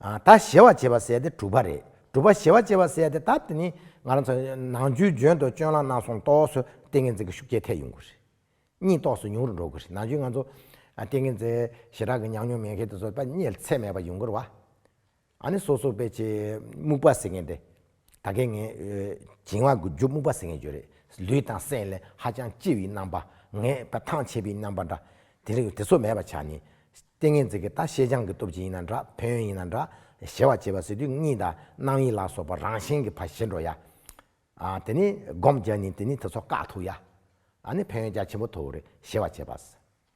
ད་གཞལ་བར་བྱེད་པ་བསལ་ཏེ་གྲུབ་པ་རེད། གྲུབ་པ་གཞལ་བར་བྱེད་པ་བསལ་ཏེ་ད་དེ་ནི། ནང་རྒྱུད་བརྗོད་དོ་ཅོན་ལ་ནག་སོང་ཏོག་སོ་ཏིང་ངེ་འཛིན་གྱི་ཤུགས་རྒྱས་ཐལ་ཡོང་གི་རེད། གཉིད་ཏོག་སོ་ཉུང་རུ་འགྲོ་གི་རེད་ནང་རྒྱུད་ང་ཚོ། ཏིང་ངེ་འཛིན་ཞེ་དྲག་གི་མྱང་མྱོང་མེད་མཁན་དེ་ཚོ་ད་གཉིད་ཚད་མེད་པ་ཡོང་གི་རེད། ཨ་ནི་སོ་སོར་དཔེ་བྱེད་རྨུགས་པ་ཟེར་མཁན་དེ། ད་གེ་ངས། བྱིང་བ་དགུ་བཅུ་སྨུག་པ་ཟེར་ངེས་བརྗོད་རེད། ལུས་དང་སེམས་ལས་ཧ་ཅང་ལྕི་བའི་རྣམ་པ། ངས་པ་ཐང་ཆད་པའི་རྣམ་པ་འདྲ། དེ་རིང་དེ་ཚོ་མེད་པ་ཆགས་ནས། ལྟས་ངན་འཛེག་གི་ད་ཤེས་བྱང་གི་སྟོབས་ཀྱིས་ཡིན་ན་འདྲ་ཕན་ཡོན་ཡིན་ན་འདྲ། གཞལ་བ་བྱེད་པ་ཟེར་དུས་གཉིད་དང་སྣང་ཡིད་ལ་སོགས་པ་རང་བཞིན་གྱི་བ་ཞི་འགྲོ་ཡ། དེ་ནས་སྒོམ་རྒྱག་ནས་དེ་ནས་དེ་ཚོ་བཀག་ཐུབ་ཡ། ཨ་ནི་ཕན་ཡོན་རྒྱ་ཆེན་པོ་ཐོབ་བོ་རེད་གཞལ་བ་བྱེད་པ།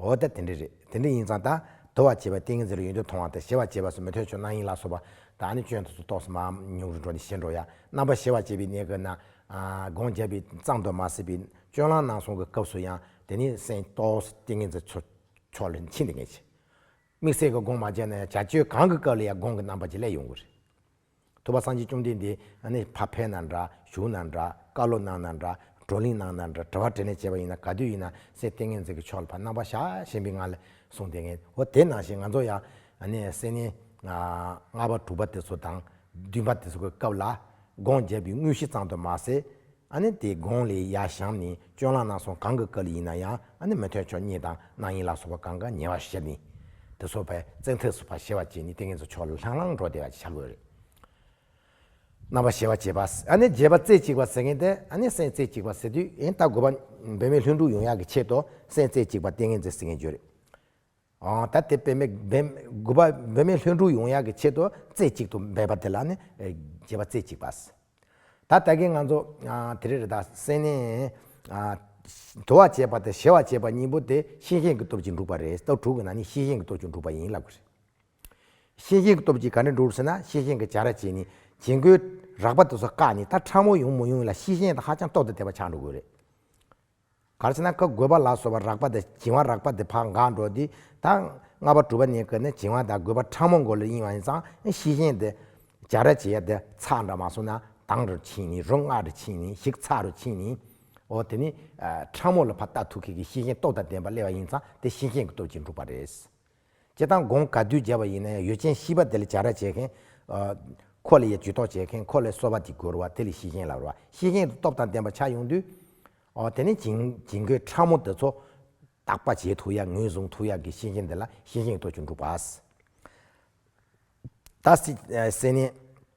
འོ་ད་དེ་འདྲ་རེད་དེ་འདྲ་ཡིན་ཙང་ད་དོ་བ་བྱེད་པ་ཏིང་ངེ་འཛིན་ལ་ཡོན་ཏན་མཐོང་བ་དང་ཞེ་བ་བྱེད་པ་སོགས་མི་ཐོན་ཆོག་སྣང་ཡིན་ལགས་སོ། བ་དག་ནི་སྐྱོན་དུ་སུ་གཏོགས་སུ་མ་མྱོང་རུ་འགྲོ་ནས་ཞེ་འགྲོ་ཡ། རྣམ་པ་ཞེ་བ་བྱེད་པའི་གནས་སྐབས་ན། སྒོང་རྒྱབ་པའི་གཙང་དུ་མ་བསྲེས་པའི་སྐྱོན་ལང་གནང་སོང་གི་སྐབས་སུ་ཡང་དེ་ནི་སེམས་རྟོགས་སུ་ཏིང་ངེ་འཛིན་ཚུར་ཕྱོགས་ལ་ཕྱིན་ཏེ་ངེས་བྱེད། དམིགས་བསལ་གྱི་སྒོང་མ་བྱས་ན་ཡང་བྱ་སྤྱོད་གང་གི་སྐབས་ལ་ཡང་སྒོང་གི་རྣམ་པ་ཇི་སླད་ཡོང་གི་རེད། ཐུབ་པ་སངས་རྒྱས་བཅོམ་ལྡན་འདས་ནི་ཕ་ཕེ་ན་འདྲ་ཞུགས་ན་འདྲ་བཀའ་སློབ་གནང་ན་འདྲ་བགྲོ་གླེང་གནང་ན་འདྲ་དྲི་བ་དྲིས་ནས་བྱས་པ་ཡིན་ན་ག་དུས་ཡིན་ན་སེ་སྟེ་ངེད་ཚང་གི་ཕྱོགས་ལ་ཕ་ནང་པ་ཤ་ཞེན་པའི་ངང་ལས་གསུངས་དེ་ངེད་འོ་དེ་ནང་བཞིན་ང་ཚོ་ཡང་སེ་ནི་ལྔ་པ་དྲུག་པ་དེ་ཚོ་དང་བདུན་པ་དེ་ཚོ་གི་སྐབས་ལ་སྒོང་རྒྱབ་པའི་དངོས་གཞི་གཙང་དུ་མ་ཟད། ཨ་ནི་དེའི་དགོངས་ལས་ཡ་ཞང་ནི་སྤྱོད་ལག་ནག་སོང་གང་གི་བཀའ་ལས་ཡིན་ན་ཡང་ཨ་ནི་མི་ཐོད་ཕྱོགས་གཉིས་དང་ནག་ཡིན་ལ་སོགས་པ་གང་ག་ཉེ་བར་བཤད་ནི། དེ་སོགས་པས་བཙན་ཐབས་སུ་བ་ཞེས་བ་ཅད་ནི་ཏིང་ངེ་འཛིན་ཕྱོགས་ལ་ལྷང་ལྷང་འགྲོ་བདེ་བ་བྱ་དགོས་རེད། ན་བ་ཞེས་བ་ཅད་པས་ཨ་ནི་བརྗེད་པ་རྩེ་གཅིག་པ་ཟེར་མཁན་དེ་ཨ་ནི་སེམས་རྩེ་གཅིག་པ་ཟེར་དུས་ཨེ་ལྟ་དགོས་པ། བུད་མེད་ལྷུན་གྲུབ་ཡོང་ཡག་གི་ཆེད་དུ་སེམས་རྩེ་གཅིག་པ་ཏིང་ངེ་འཛིན་ཟེར་མཁན་བརྗོད་རེད། ད་དེ་དཔེ་མེད་དགུ་པ་འབད་མེད་ལྷུན་གྲུབ་ཡོང་ཡག་གི་ཆེད་དུ་རྩེ་གཅིག་ཏུ་འབད་པ་དེ་ལ་ནི་རྒྱལ་བ་རྩེ་གཅིག་པ། ད་ལྟ་གི་ང་ཚོ་དེ་རེ་རེ་དག་སེར་སྣས་དུ་བ་བྱས་པ་དང་གཞལ་བ་བྱས་པ་གཉིས་པོ་དེ་ཤེས་བཞིན་གྱི་སྟོབས་ཀྱིས་འགྲུབ་པ་རེད་ལྟ་དྲུག་གི་ནང་ནས་ཤེས་བཞིན་གྱི་སྟོབས་ཀྱིས་འགྲུབ་པ་ཡིན་ལབ་གི་རེད། ཤེས་བཞིན་གྱི་སྟོབས་ཀྱིས་ག་འདྲ་འགྲུབ་ཟེར་ན་ཤེས་བཞིན་གྱི་བྱ་ར་བྱེད་ནི་བྱེད་མགོའི་རགས་པ་དེ་ཚོ་བཀག་ནས་ད་ཕྲ་མོ་ཡོང་མི་ཡོང་ལ་ཤེས་བཞིན་དང་ཧ་ཅང་ལྟོགས་དང་དལ་བ་ཆགས་འགྲོ་དགོས་རེད། གར་བྱེད་ན་བཀའ་བསྒོས་པ་ལ་སོགས་པ་རགས་པ་དང་བྱིན་བ་རགས་པ་དེ་བག་འགགས་འགྲོ་སྟེ། ད་ལྔ་བ་དྲུག་པ་ནི་ཀ་ནས་བྱིན་བ་དང་བསྒོས་པ་ཕྲ་མོ་མགོ་ལས་དབྱིངས་བ་ནས་ཚངས་ཤིང་བཞིན་ཏེ། སྦྱར་ར་བྱེད་ཡ་དེ་ཚགས་འདྲ་མ་སོང་ན་དང་རུ་ཕྱིན་ནི་རུ་སྔགས་རུ་ཕྱིན་ནི་ཞིག་ཚགས་རུ་ཕྱིན་ནི། འོ་དེ་ནི། ཕྲ་མོ་ལ་ཕ་རྟགས་ཐུགས་ཁེགས་ཀྱི་ཤེས་བཞིན་སྟོབས་དང་ལྡན་པ་སླེ་བ་ཡིན་ཙང་དེ་ཤེས་བཞིན་གྱི་སྟོབས་ཀྱིས་འགྲུབ་པ་རེད། ཅེས་དང་དགོངས་བཀའ་བསྡུས་བརྒྱ་བ་ཡིན་ན་ཡང་ཡོ་ཆེན་ཤིས་པ་དེ་ལས་བྱ་ར་བྱེད་མཁན། ཁོ་ལ་ཡའི་ཇུས་ཏོག་བྱེད་མཁན་ཁོ་ལས་གསོལ་བ་འདི་བསྒོར་བ་དེ་ལས་ཤིས་ཤིང་ལ་རོ་ཤིས་ཤིང་དུ་སྟོབས་དང་ལྡན་པ་ཆགས་ཡོང་དུས། ཨོ་དེ་ནི་བྱིང་རྒོད་ཕྲ་མོ་འདི་ཚོ། དག་པ་བྱེད་ཐུགས་ཡག་ངོས་བཟུང་ཐུགས་ཡག་གི་ཤིས་ཤིང་འདི་ལ་ཤིས་ཤིང་ཐོ་ཆུ་འབྲུག་བ། ད་སེ་ནི།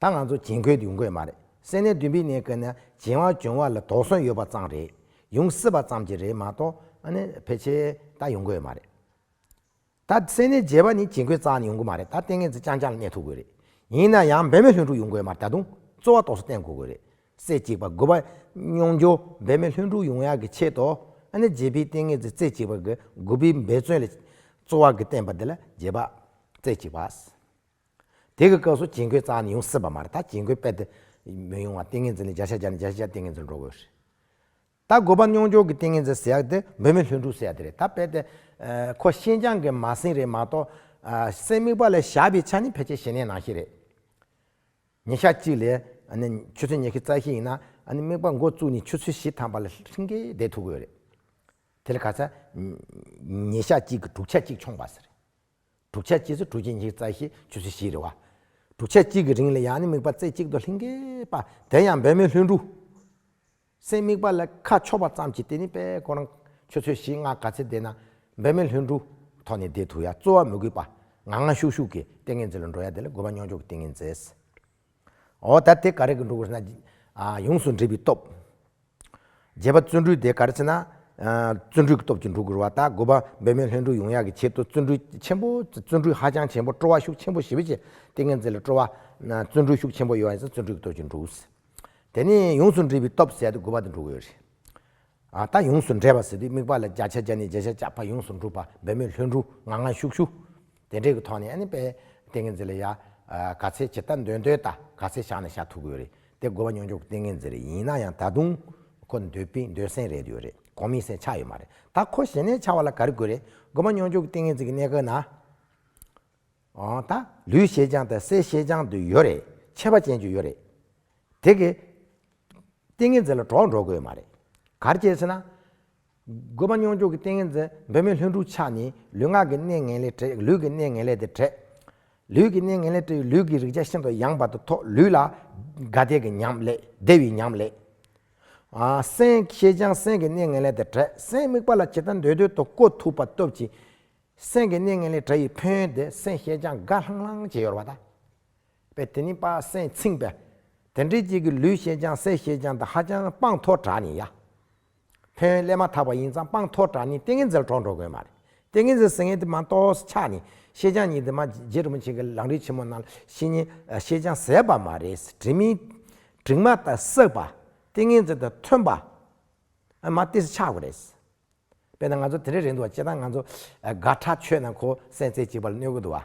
ད་ང་ཚོ་གྱེན་འཁོད་ཡོང་དགོས་མ་རེད་སེ་ནས་བདུན་པའི་གནས་ཀི་ན་གྱེན་བ་གྱོན་བ་ལ་དོགས་ཟོན་ཡོད་པ་ཙང་རེད་ཡོང་སྲིད་པ་ཙམ་གྱི་རེད་མ་གཏོགས་ཕལ་ཆེ་ད་ཡོང་དགོས་མ་རེད། ད་སེ་ནས་རྒྱལ་བ་ནི་གྱེན་འཁོད་རྩ་ནས་ཡོང་དགོས་མ་རེད་ད་ལྟེ་ངེད་ཚོ་རྐྱང་རྐྱང་ལ་གནས་ཐུབ་དགོས་རེད་ཡིན་ན་ཡང་འབད་མེད་ལྷུན་འགྲུག་ཡོང་དགོས་མ་རེད་ད་དུང་རྩོ་བ་དོགས་ས་གཏན་འགོ་དགོས་རེད་སེ་གཅིག་པ་དགོས་པ་སྙོང་རྒྱོ་འབད་མེད་ལྷུན་འགྲུག་ཡོང་ཡག་གི་ཆེད་དོ་ཨ་ནེ་རྗེ་པི་ཏེ་ངེད་ཚོས་རྩེ་གཅིག་པ་གི་དགོས་པའི་འབད་བརྩོན་ལས་རྩོ་བ་གི་བསྟན་པ་འདི་ལ་རྗེ་པ་རྩེ་གཅིག་པ། དེ་གི་སྐབས་སུ་གྱེན་ཁོད་གཙང་ནི་ཡོང་སྲིད་པ་མ་རེད་ད་གྱེན་ཁོད་པད་དེ་མི་ཡོང་བ་ཏིང་ངེ་འཛིན་ལས་བརྒྱ་ཆ་བརྒྱ་ནི་བརྒྱ་ཆ་བརྒྱ་ཏིང་ངེ་འཛིན་འགྲོ་དགོས་རེད། ད་དགོས་པ་སྙོང་འཇོག་གི་ཏིང་ངེ་འཛིན་ཟེར་ཡག་དེ་འབོད་མེད་ལྷུན་འགྲུབ་ཟེར་ཡག་དེ་རེད་ད་པད་དེ། ཁོ་ཤིན་ཅང་གི་མ་སྲིང་རེད་མ་གཏོགས། སེམས་དམིགས་པ་ལས་བཞག་པའི་ཆ་ནི་ཕལ་ཆེར་ཞི་གནས་ནང་ཤེས་རེད། ཉིན་ཞག་གཅིག་ལས། ཆུ་ཚོད་ཉི་ཤུ་རྩ་བཞི་ཡིན་ན། དམིགས་པ་འགོ་བཙུགས་ནས་ཆུ་ཚོད་བཞི་ཐམ་པ་ལ་ཧྲིང་ཀེ་བསྡད་ཐུབ་དགོས་རེད། དེ་ལ་ག་ཚད། ཉིན་ཞག་གཅིག་གི་དྲུག་ཆ་གཅིག་འཆོངས་པ་ཟེར། དྲུག་ཆ་གཅིག་སོ་དྲུག་གཅིག་ཉིས་རྩ་ཤེས་བཅུ་སོ་བཞི་རེད་བ། དྲུག་ཆ་གཅིག་གི་རིང་ལ་ཡང་ནི་དམིགས་པ་རྩེ་གཅིག་ཏུ་ལྷིང་གེ་པ་དེ་ཡང་འབད་མེད་ལྷུན་གྲུ། སེམས་དམིགས་པ་ལ་ཁ་ཕྱོགས་པ་ཙམ་གྱིས་དེ་ནི་པས་ཁོ་རང་ཆོས་ཚུལ་བཞིན་སྔགས་ག་ཚད་བཟླས་ན། འབད་མེད་ལྷུན་གྲུ། ཐོག་ནས་བཟླས་ཐུབ་ཡ་རྩོལ་བ་མི་དགོས་པ། ངང་ངང་ཤུགས་ཤུགས་ཀྱིས་ཏིང་ངེ་འཛིན་ལ་འགྲོ་ཡ་དེ་ལ་དགོས་པ་མྱོང་ཆོག་གི་ཏིང་ངེ་འཛིན། ཨོ་ད་དེ་ག་རེ་གི་འགྲོ་དགོས་ཟེར་ན། ཡོངས་སུ་འདྲིས་པའི་སྟོབས། བརྒྱད་པ་བརྩོན་འགྲུས་དེ་ག་རེ་ཟེར་ན། བརྩོན་འགྲུས་ཀྱི་སྟོབས་ཀྱིས་འགྲོ་དགོས་བ་དང་དགུ་པ་འབད་མེད་ལྷུན་གྲུབ་ཡོང་ཡག་གི་ཆེད་དུ་བརྩོན་འགྲུས་ཆེན་པོ། བརྩོན་འགྲུས་ཧ་ཅང་ཆེན་པོ་སྤྲོ་བ་ཤུགས་ཆེན་པོ་ཞི་བ་བྱེད་ཏིང་ངེ་འཛིན་ལ་སྤྲོ་བ། བརྩོན་འགྲུས་ཤུགས་ཆེན་པོ་ཡོད་ཡིན་ཟེར་ན་བརྩོན་འགྲུས་ཀྱི་སྟོབས་ཀྱིས་འགྲོ་དགོས། དེ་ནས་ཡོངས་སུ་འདྲིས་པའི་སྟོབས་ཟེར་ཏེ་དགུ་པ་དེ་འགྲོ་དགོས་རེད། ཨ་ད་ཡོངས་སུ་འདྲེས་པ་ཟེར་དུས་དམིགས་པ་ལ་བརྒྱ་ཆ་བརྒྱ་ནས་བརྒྱད་ཆ་བརྒྱ་བར་ཡོངས་སུ་འགྲུབ་པ་འབད་མེད་ལྷུན་གྲུབ་ངང་ངང་ཤུགས་ཤུགས། དེ་འབྲེལ་གྱི་ཐོག་ནས་པེ་ཏེ་ངེ་འཛིན་ལ་ཡ། ག་ཚད་ཇི་ལྟར་འདོད་འདོད་ལྟ་ག་ཚད་བཞག་ན་བཞག་ཐུབ་གི་ཡོད་རེད་དེ་དགོས་པ་མྱོང་འཇུག་གི་ཏིང་ངེ་འཛིན་རེད་ཡིན་ན་ཡང་ད་དུང། ཁོ་འདོད་པི་འདོད་སེམས་རེད་ཡོད་རེད་གོང་མིང་སེམས་ཆགས་ཡོད་མ་རེད་ད་ཁོ་ཞེ་ནས་ཆགས་བ་ལ་ག་རེ་དགོས་རེད་དགོས་པ་མྱོང་འཇུག་གི་ཏིང་ངེ་འཛིན་གྱི་གནད་འགག་ན། འོང་ད། ལུས་ཤེས་སྦྱང་དང་སའི་ཤེས་སྦྱང་དུ་ཡོད་རེད་ཆད་པ་ཅན་ཅུ་ཡོད་རེད། དེ་གི། ཏིང་ངེ་འཛིན་ལ་གྲོགས་འགྲོ་དགོས་ཡོད་མ་རེད། གར་སྐྱེས་ཟེར་ན། དགོས་པ་སྙོགས་འཇུག་གི་ཏིང་ངེ་འཛིན་འབད་མེད་ལྷུན་གྲུབ་ཆ་ནི་ལུས་ངག་གི་གནས་ངན་ལས་བྲལ་ལུས་ཀྱི་གནས་ངན་ལས་དེ་བྲལ། ལུས་ཀྱི་གནས་ངན་ལས་བྲལ་བའི་ལུས་ཀྱི་རེག་བྱ་ཤིན་ཏུ་ཡངས་པ་དང་ཐོགས་ལུས་ལ། དགའ་བདེ་གི་ཉམས་ལས་བདེ་བའི་ཉམས་ལས། སེམས་ཤེས་བྱང་སེམས་ཀྱི་གནས་ངན་ལས་དེ་བྲལ་སེམས་དམིགས་པ་ལ་ཇི་ལྟར་འདོད་འདོད་དུ་བཀོད་ཐུབ་པ་སྟོབས་ཀྱིས། སེམས་ཀྱི་གནས་ངན་ལས་བྲལ་བའི་ཕན་ཡོན་དེ་སེམས་ཤེས་བྱང་དགའ་ལྷང་ལྷང་བྱེད་ཡོར་བ་དང། པས་དེ་ནི་དཔག་སེམས་ཚིག་འབའ། དེ་འདྲའི་གཅིག་གིས་ལུས་ཤེས་བྱང་སེམས་ཤེས་བྱང་དང་ཧ་ཅང་དཔངས་མཐོ་དྲགས་ནས་ཡ། ཕོན་སླེབས་མ་ཐག་པ་ཡིན་ཙང་སྤང་ཐོག་དྲག་ནི་ཏིང་ངེ་འཛིན་ལ་གྲོགས་འགྲོ་དགོས་མ་རེད། ཏིང་ངེ་འཛིན་ཟེར་ངེས་དེ་མ་གཏོགས་ཕྱག་ནི་ཤེས་བྱ་གཉིས་དེ་མ་རྗེ་རིན་པོ་ཆེ་གི་ལང་རིགས་ཆེན་མོ་ནང་ལ་ཤེས་ཉེན་ཤེས་བྱ་ཟེར་བ་མ་རེད་དྲི་མི་དྲི་མ་དང་བསྲེགས་པ་ཏིང་ངེ་འཛིན་དང་མཐུན་པ་མ་སྟེ་ཕྱག་རེད། དཔེར་ན་ང་ཚོ་དེ་འདྲའི་རེད་འདུག་བ་ཅེ་ད་ང་ཚོ་དགའ་གྲགས་ཆོས་རྣམས་གོ་གསལ་རྩེ་གཅིག་པ་ལ་གནོད་གི་འདུག་བ།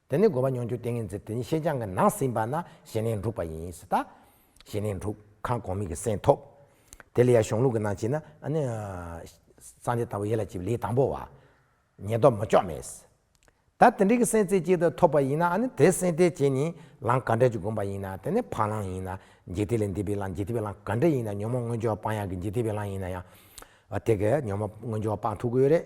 དེ་ནི་དགོས་པ་མྱོང་འགྱུར་ཏིང་ངེ་འཛིན་དེ་ཉིད་ཤེས་བྱ་འགའ་ནང་ཟིན་པ་ན་ཞེན་ལེན་འགྲུབ་པ་ཡིན་ཞེས་ལྟ། ཞེན་ལེན་འགྲུབ་གང་གོང་མིག་གི་སེམས་ཐོབ། དེ་ལས་ཡང་གཞུང་ལུགས་ཀྱི་ནང་བྱེད་ན། སངས་རྒྱས་ལྟ་བུ་ཡེ་ལ་བྱེད་པའི་ལས་དང་པོ་བ། ཉེས་ལྡོག་མ་ལྕོགས་མེད། ད་དེ་འདྲའི་གི་སེམས་རྩེ་གཅིག་ཏུ་ཐོབ་པ་ཡིན་ན་དེ་སེམས་རྩེ་གཅིག་ནི་ལམ་ག་འདྲ་ཅིག་བསྒོམ་པ་ཡིན་ན་དེ་ནི་ཕ་ལམ་ཡིན་ན་འཇིག་རྟེན་ལས་འདས་པའི་ལམ་འཇིག་རྟེན་པའི་ལམ་ག་འདྲ་ཡིན་ན་ཉོན་མོངས་སྔོན་བྱོན་བ་སྤང་ཡང་གི་འཇིག་རྟེན་པའི་ལམ་ཡིན་ན་ཡང། དེ་གའི་ཉོན་མོངས་སྔོན་བྱོན་བ་སྤང་ཐུབ་ཀྱི་ཡོད་རེད།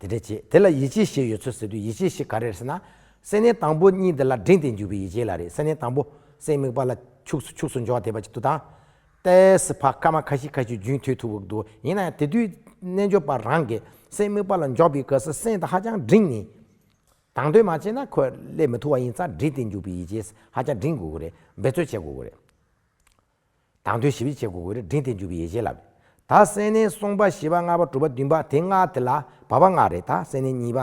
དེ་འདྲས་བྱེད། དེ་ལ་ཡིད་ཆེས་ཞེས་ཡོད་ཚོད་ཟེར་དུས་ཡིད་ཆེས་ཞེས་ག་རེ་རེད་ཟེར་ན། སེམས་ནི་དང་པོ་གཉིས་འདི་ལ་འབྲིང་སྟེ་འཇུག་པའི་ཡིད་ཆེས་ལ་རེད་སེམས་ནི་དང་པོ། སེམས་དམིགས་པ་ལ། ཕྱུགས་ཕྱུགས་སུ་འཇོག་བདེ་བ་ཅིག་ཏུ་དང། ཏས་བྷ་ཀ་མ་ཁ་ཤི་ཁ་ཤི་རྒྱུན་མཐུད་ཐུབ་བོ། ཡིན་ནའང་དེ་དུས་རྣལ་འབྱོར་པ་རང་གིས་སེམས་དམིགས་པ་ལ་འཇོག་པའི་སྐབས་སུ་སེམས་དང་ཧ་ཅང་འབྲིང་ནི། དང་དོད་མ་བྱས་ན་ཁོས་སླེབས་མི་ཐུབ་བ་ཡིན་ཙང་འབྲིང་སྟེ་འཇུག་པའི་ཡིད་ཆེས་ཧ་ཅང་འབྲིང་དགོས་ཀྱི་རེད་འབད་རྩོལ་བྱེད་དགོས་ཀྱི་རེད། དང་དོད་ཞིབ་ཅིག་བྱས་གོ་བོའི་རི་འབྲིང་དེ་འཇུག་པའི་ཡེ་ཤེས་ལ། ད་སེ་ནའི་གསུངས་པ་བཞི་པ་ལྔ་པ་དྲུག་པ་བདུན་པ་དེ་ལྔ་དེ་ལ་བབ་པ་ལྔ་རེད་ད་སེ་ནའི་གཉིས་པ་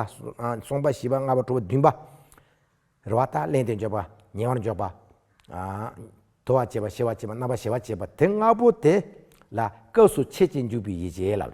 གསུངས་པ་བཞི་པ་ལྔ་པ་དྲུག་པ་བདུན་པ། རེད་བ་ད་གླེང་དེ་འཇོག་པ་ཉེ་བར་འཇོག་པ། དོར་བ་བྱེད་པ་ཤེས་བ་བྱེད་པ་རྣ་བ་ཞེ་བ་བྱེད་པ་དེ་ལྔ་པོ་དེ་ལ་སྐབས་སུ་ཕྱེད་ཅིག་འཇུག་པའི་ཡེ་ཤེས་ལ།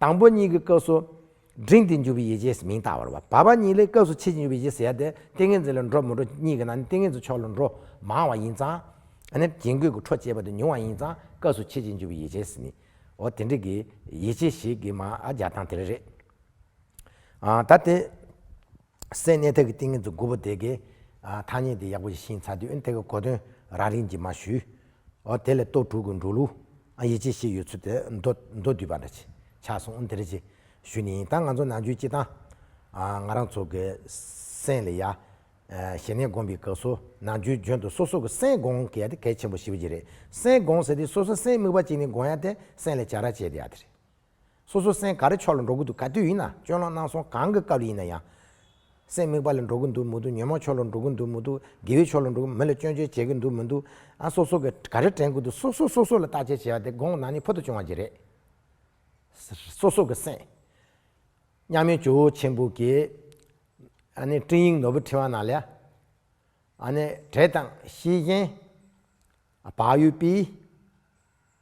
དང་པོ་གཉིས་ཀྱི་སྐབས་སུ། འབྲིང་སྟེ་འཇུག་པའི་ཡེ་ཇེས་མིང་བཏགས་པར་བ། བ་པ་གཉིས་ལས་སྐབས་སུ་ཕྱེད་ཀྱི་འཇུག་པའི་ཡེ་ཟེར་ཏེ་ཏིང་ངེ་འཛིན་ལ་འགྲོ་མི་འགྲོ་གཉིས་ཀྱི་ནང་ནས་ཏིང་ངེ་འཛིན་ཕྱོགས་ལ་འགྲོ་མང་བ་ཡིན་ཙང། རྒྱན་གོས་ཀྱི་འཕྲོ་བཅད་པ་དེ་ཉུང་བ་ཡིན་ཙང་སྐབས་སུ་ཕྱེད་ཀྱི་འཇུག་པའི་ཡེ་ཇེས་མིང། འོ་དེ་འདྲ་གི། ཡེ་ཇེ་ཞིག་གི་མ་རྒྱག་སྟངས་དེ་རེད། ད་དེ། སའི་གནས་ཐད་ཀྱི་ཏིང་ངེ་འཛིན་དགུ་པོ་དེ་ཀའི་ཐ་སྙད་དེ་ཡག་པོ་ཞིག་ཤེས་ཚར་དུས་དེ་ཀའི་གོ་དོན་རང་རིག་གྱིས་མ་ཞུས། འོ་དེ་ལས་གཏོ་དྲུག་གི་འགྲོ་ལུགས་ཡིད་ཆེས་ཤིག་ཡོད་ཚུལ་དེ་མདོ་བསྡུས་པ་འདྲ་ཆགས་སོང་དེ་རེ་ཅི་ཞུ་ནི་ཡིན་ད་ང་ཚོ་ནང་ཆོས་སྤྱི་དང། ང་རང་ཚོ་གི་སེམས་ལ་ཡ། ཞེ་ནས་སྒོམ་པའི་སྐབས་སུ་ནང་ཆོས་འཇོན་དུ་སོ་སོ་གི་སེམས་དགོངས་དགོས་ཡ་དེ་གལ་ཆེན་པོ་ཞིག་པ་ཅིག་རེད་སེམས་དགོངས་ཟེར་དུས་སོ་སོ་སེམས་དམིགས་པ་ཅིག་ནས་དགོངས་ཡ་དེ་སེམས་ལ་བྱ་ར་བྱས་དེ་ཡ་དེ་རེད། སོ་སོ་སེམས་ག་རེ་ཕྱོགས་ལ་འགྲོ་གི་འདུག་ག་དུས་ཡིན་ན་སྤྱོད་ལམ་སྣང་སོང་གང་གི་སྐབས་ཡིན་ན་ཡང། སེམས་དམིགས་པ་ལ་འགྲོ་གི་འདུག་མི་འདུག་ཉོན་མོངས་ཕྱོགས་ལ་འགྲོ་གི་འདུག་མི་འདུག་དགེ་བའི་ཕྱོགས་ལ་འགྲོ་གི་མི་ལ་སྐྱོན་བརྗོད་བྱེད་ཀྱི་འདུག་མི་འདུག་ཨ་སོ་སོ་གིས་ག་རེ་དྲན་གི་འདུག་སོ་སོས་སོ་སོ་ལ་བརྟག་དཔྱད་བྱས་པ་དེ་དགོངས་ན་ནི་ཕུལ་དུ་བྱུང་བ་འདི་རེད། སོ་སོ་གི་སེམས། མཉམ་མེད་ཇོ་བོ་ཆེན་པོ་གིས། ཨ་ནི་སྤྲིང་ཡིག་ནོར་བུ་འཕྲེང་བ་ན་ལས། ཨ་ནི་བྲེ་དང་ཤིང་གཞན། བག་ཡོད་པི།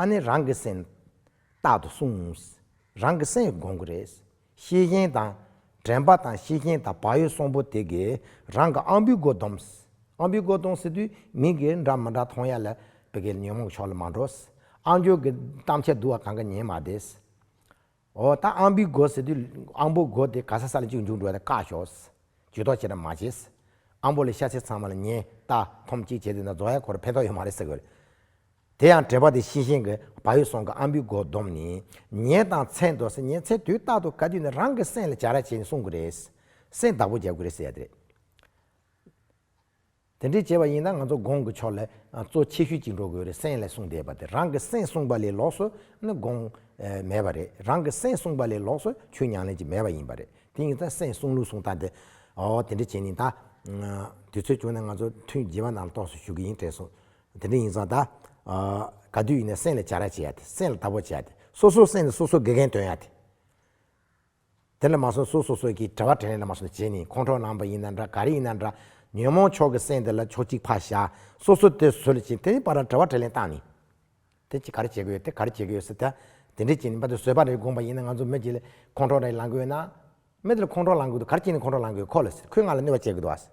ཨ་ནི་རང་གི་སེམས། རྟག་ཏུ་གསུངས། རང་གི་སེམས་དགོངས་ཀྱི་རེད། ཤེས་མཁན་དང། དྲན་པ་དང་ཤེས་མཁན་དང་བག་ཡོད་སོང་པོ་དེ་གས་རང་གི་ཨང་བུའི་སྒོ་སྡོམས། ཨང་བུའི་སྒོ་གཏོང་ཟེར་དུས་མི་གས་འདྲ་མི་འདྲ་མཐོང་ཡ་ལ་བི་གས་ཉོན་མོངས་ཕྱོགས་ལ་མ་འགྲོ། ཨང་ཅོག་གི་གཏམ་འཆལ་བསྡུ་བ་གང་ག་ཉན་མ་བདེ། ཨོ་ད་ཨང་པི་སྒོ་ཟེར་དུས་ཨང་པོ་སྒོ་དེ་ག་ས་ས་ལ་གཅིག་འབྱུང་འགྲོ་བ་དེ་བཀག་ཞོག། ཇུས་ཏོག་བྱེད་དང་མ་བྱེད། ཨང་པོ་ལས་ཤ་ཚིལ་ཚང་མ་ལ་ཉན་ལྟ་འཐོམ་གཅིག་བྱེད་དེ་ན་རྫོགས་ཡ་ཁོ་ར་ཕན་ཐོག་ཡོད་མ་རེད་ཟེར་དགོས། དེ་ཡང་བྲེལ་བ་དེ་ཤེས་ཤེས་ཀྱི་བག་ཡོད་སོང་གི་ཨང་པི་སྒོ་བསྡོམས་ནས་ཉན་དང་ཚད་འདོགས་སེ་ཉན་ཚེ་དུས་རྟག་ཏུ་ག་དུས་ནས་རང་གི་སེམས་ལ་བྱ་ར་བྱེད་ནས་སྲུང་དགོས་རེད། སེམས་བདག་པོ་རྒྱག་དགོས་རེད་ཟེར་ཡ་རེད། དེ་འདྲའི་བྱས་པ་ཡིན་ན་ང་ཚོ་དགོངས་ཀྱི་ཕྱོགས་ལས་གཙོ་ཆེ་ཤོས་ཅིག་འགྲོ་དགོས་རེད་སེམས་ལས་གསུངས་བསྡད་པ་དེ་རང་གི་སེམས་གསུངས་པ་ལས་ལོགས་སུ་ནི་དགོངས་མེད་པ་རེད་རང་གི་སེམས་གསུངས་པ་ལས་ལོགས་སུ་ཆོས་ཉང་ལེན་གྱི་མེད་པ་ཡིན་པ་རེད་དེ་ཡིན་ཙང་སེམས་གསུངས་ལུགས་གསུངས་སྟངས་དེ་འོ་དེ་འདྲ་བྱས་ནས་ད་དུས་ཚོད་བྱུང་ནས་ང་ཚོ་ཐུན་བརྗེ་བ་ནང་ལྟོགས་སུ་ཞུགས་ཀྱི་ཡིན་དྲན་སོང་དེ་འདྲ་ཡིན་ཙང་ད་ག་དུས་ཡིན་ན་སེམས་ལ་བྱ་ར་བྱེད་ཡ་དེ་སེམས་ལ་བདག་པོ་བྱེད་ཡ་དེ་སོ་སོ་སེམས་ལ་སོ་སོ་དགེ་རྒན་སྟོན་ཡ་དེ། དེ་ལས་མ་སོན་སུ་སོ་སོས་ཀྱིས་བྲེལ་བ་བྲེལ་ནས་ལ་མ་སོན་བྱས་ནས་ཁོང་ཁྲོ་ལངས་པ་ཡིན་ན་འདྲ་ག་རེ་ཡིན་ན་འདྲ། ཉོན་མོངས་ཕྱོགས་ཀྱི་སེམས་དེ་ལ་ཕྱོགས་གཅིག་ཕ་བཞག་སོ་སོ་དེ་བཟོད་ལ་བྱིན་དེ་པར་བྲེལ་བ་བྲེལ་ནས་བཏང་ནས། དེ་ཅི་ག་རེ་བྱེད་ཀྱི་ཡོད་དེ་ག་རེ་བྱེད་ཀྱི་ཡོད་ཟེར་ཐལ། དེ་འདྲས་བྱས་ནས་པ་དེ་བཟོད་པ་རེད་དགོངས་པ་ཡིན་ན་ང་ཚོ་མི་དེ་ལས་ཁོང་ཁྲོ་རེ་ལངས་ཀྱི་ཡོད་ན། མི་དེ་ལ་ཁོང་ཁྲོ་ལངས་ཀྱི་འདུག་ག་རེ་བྱས་ནས་ཁོང་ཁྲོ་ལངས་ཀྱི་ཡོད་ཁོ་ལ་ཟེར་ཁོས་ང་ལ་གནོད་པ་བྱེད་ཀྱི་འདུག་ཨ་ཟེར།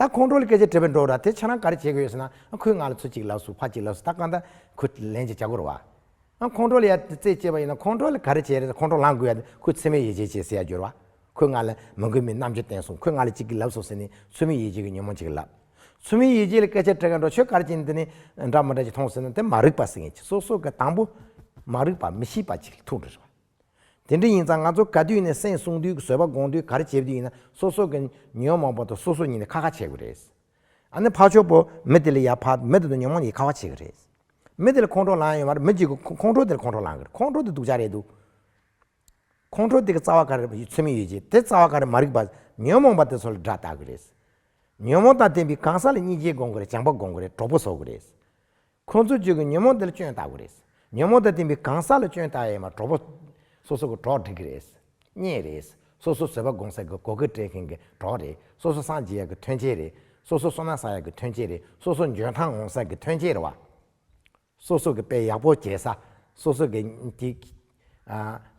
ད་ཁོང་ཁྲོ་ལ་སྐད་ཆ་དྲིས་པ་འགྲོ་ར་དེ་ཆ་རང་ག་རེ་བྱེད་དགོས་ཡོད་ཟེར་ན་ཁོའི་ངག་ལ་ཚུར་གཅིག་ལགས་སུ་ཕར་གཅིག་ལགས་སུ་ད་གང་ད་ཁོ་ལན་ཅིག་བྱ་དགོས་ར་བ། ཁོང་ཁྲོ་ལ་ཡར་རྩེ་བཅད་པ་ཡིན་ན་ཁོང་ཁྲོ་ལ་ག་རེ་བྱེད་ར་ཁོང་ཁྲོ་ལངས་དགོས་ཡ་ཁོས་ཚོད་མེད་ཡིད་བྱེད་བྱེད་ཟེར་ཡ་རྒྱུ་ར་བ། ཁོའི་ངག་ལ་མ་མགོན་མེད་རྣམ་དཔྱོད་བསྟན་སོང་ཁོའི་ངག་ལ་ཅིག་གི་ལབ་སོང་ཟེར་ནས་ཚོད་མེད་ཡིད་བྱེད་ཀྱི་ཉོན་མོངས་ཅིག་ལབ། ཚོད་མེད་ཡིད་བྱེད་ལ་སྐད་ཆ་དྲིས་ཀ་འགྲོ་ཆོས་ག་རེ་བྱེད་འདི་ནི་འདྲ་མི་འདྲ་ཅིག་མཐོང་ཟེར་ན་དེ་མ་རིག་པ་ཟེར་ངེས་ཅིག་སོ་སོ་ག་དང་པོ། མ་རིག་པ་མི་ཤེས་པ་ཅིག་ལ་ཐུག་འགྲོ་ར་བ། དེ་འདྲ་ཡིན་ཙང་ང་ཚོ་ག་དུས་ནས་སེམས་གསུང་དུས་བཟོད་པ་དགོངས་དུས་གར་བྱེད་དུས་ཡིན་ན་སོ་སོ་གི་ཉོན་མོངས་པ་དོ་སོ་སོ་ཉིད་ནས་ཁ་ཁ་བྱེད་དགོས་རེད། ཨ་ནི་ཕ་ཆོག་པོ་མི་དེ་ལ་ཡ་ཕ་མི་དེ་དོ་ཉོན་མོངས་ཡི་ཁ་བ་བྱེད་གི་རེད། མི་དེ་ལ་ཁོང་ཁྲོ་ལང་ཡོད་མ་རེད་མི་གཅིག་གི་ཁོང་ཁྲོ་དེ་ལ་ཁོང་ཁྲོ་ལང་གི་རེད་ཁོང་ཁྲོ་དེ་སྡུག་ཅག་རེད་འདུག་ཁོང་ཁྲོ་དེ་གི་རྩ་བ་ག་རེ་ཚུལ་མིན་ཡོད་ཀྱི་དེ་རྩ་བ་ག་རེ་མ་རིག་པ་ཉོན་མོངས་པ་དེ་ཚོ་ལ་དགྲ་བཏགས་གི་རེད། ཉོན་མོངས་དང་ལྡན་པའི་གང་ཟག་ལ་གཉིས་སྐྱེས་དགོངས་གི་རེད་བྱང་པ་དགོངས་གི་རེད་གྲོགས་པོ་བཟོ་གི་རེད། ཁོང་ཚོའི་རྗེས་ཀྱི་ཉོན་མོངས་དེ་ལ་སྐྱོན་ལྟ་བུ་རེད། ཉོན་མོངས་དང་བསྟུན་པའི་གང་ཟག་ལ་སྐྱོན་ལྟ་ཡས་མ་གྲོགས་པོ། སོ་སོ་གི་གྲོགས་འདྲིས་ཀྱི་རེད། རྙེད་རེད། སོ་སོ་བཟོད་པ་སྒོམ་སེམས་ཀྱི་གོ་ཁེབས་སྤྲད་མཁན་གྱི་གྲོགས་རེད། སོ་སོ་སངས་རྒྱས་ཡག་གི་ཐོན་སྐྱེད་རེད། སོ་སོ་བསོད་ནམས་ས་ཡག་གི་ཐོན་སྐྱེད་རེད། སོ་སོ་འཇོན་ཐང་འོང་ས་ཀྱི་ཐོན་སྐྱེད་རེད་བ། སོ་སོ་གི་དཔེ་ཡག་པོ་བྱས་ས། སོ་སོ་གི།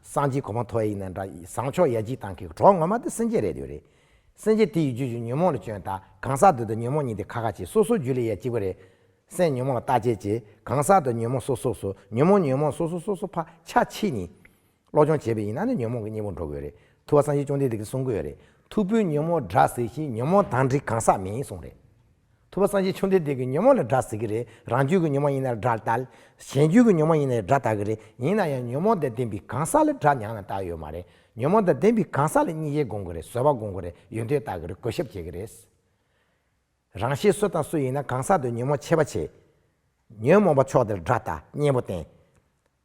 སངས་རྒྱས་གོ་མ་མཐོ་ཡིན་ན་འདྲ། བཟང་ཕྱོགས་ཡ་གཅིག་དང་གི་གྲོགས་ངོ་མ་དེ་སེམས་ཅན་རེད་འདོད་རེད། སེམས་ཅན་དེ་ཡི་རྒྱུད་ཀྱི་ཉོན་མོངས་ལ་བྱོན་ད་གང་ཟག་འདི་དང་ཉོན་མོངས་གཉིས་དེ་ཁ་ཁ་བྱེད་སོ་སོ་རྒྱུད་ལས་ཡ་གཅིག་པ་རེད། སེམས་ཉོན་མོངས་ལ་བརྟག་དཔྱད་བྱེད་གང་ཟག་དང་ཉོན་མོངས་སོ་སོ་སོ་ཉོན་མོངས་ཉོན་མོངས་སོ་སོ་སོ་སོ་ཕ་ཆ་ཕྱི་ནི། སློབ་སྦྱོང་བྱེད་པའི་ཡིན་ན་ནི་ཉོན་མོངས་ཀྱི་གཉེན་པོར་འགྲོ་དགོས་རེད་ཐུ་བ་སངས་རྒྱས་བཅོམ་ལྡན་འདས་ཀྱི་གསུང་གོ་ཡ་རེད་ཐུ་བོའི་ཉོན་མོངས་དགྲ་ཟེར་ཞིང་ཉོན་མོངས་དང་འདྲི་གང་ཟག་མིན་གསུང་རེད། ཐུབ་པ་སངས་རྒྱས་ཆུང་འདྲེ་འདི་གི་ཉོན་མོངས་ལ་དགྲ་ཟེར་གི་རེད་རང་རྒྱུད་ཀྱི་ཉོན་མོངས་ཡིན་ན་དགྲ་ལྟ། གཞན་རྒྱུད་ཀྱི་ཉོན་མོངས་ཡིན་ན་ཡང་དགྲ་ལྟ་གི་རེད་ཡིན་ན་ཡང་ཉོན་མོངས་དང་ལྡན་པའི་གང་ཟག་ལ་དགྲ་མྱངས་ན་ལྟ་ཡོད་མ་རེད་ཉོན་མོངས་དང་ལྡན་པའི་གང་ཟག་ལ་གཉིད་ཡེ་དགོངས་གི་རེད་བཟོད་པ་དགོངས་གི་རེད་ཡོད་འདོད་ལྟ་གི་རེད་གོ་ཞབས་བྱེད་གི་རེད། རང་ཤེས་སུ་དང་སུ་ཡིན་ན་གང་ཟག་དུ་ཉོན་མོངས་ཆེ་བ་བྱེད། ཉོན་མོངས་པ་ཕྱོགས་དེར་དགྲ་ལྟ་གཉེན་པོ་བསྟེན།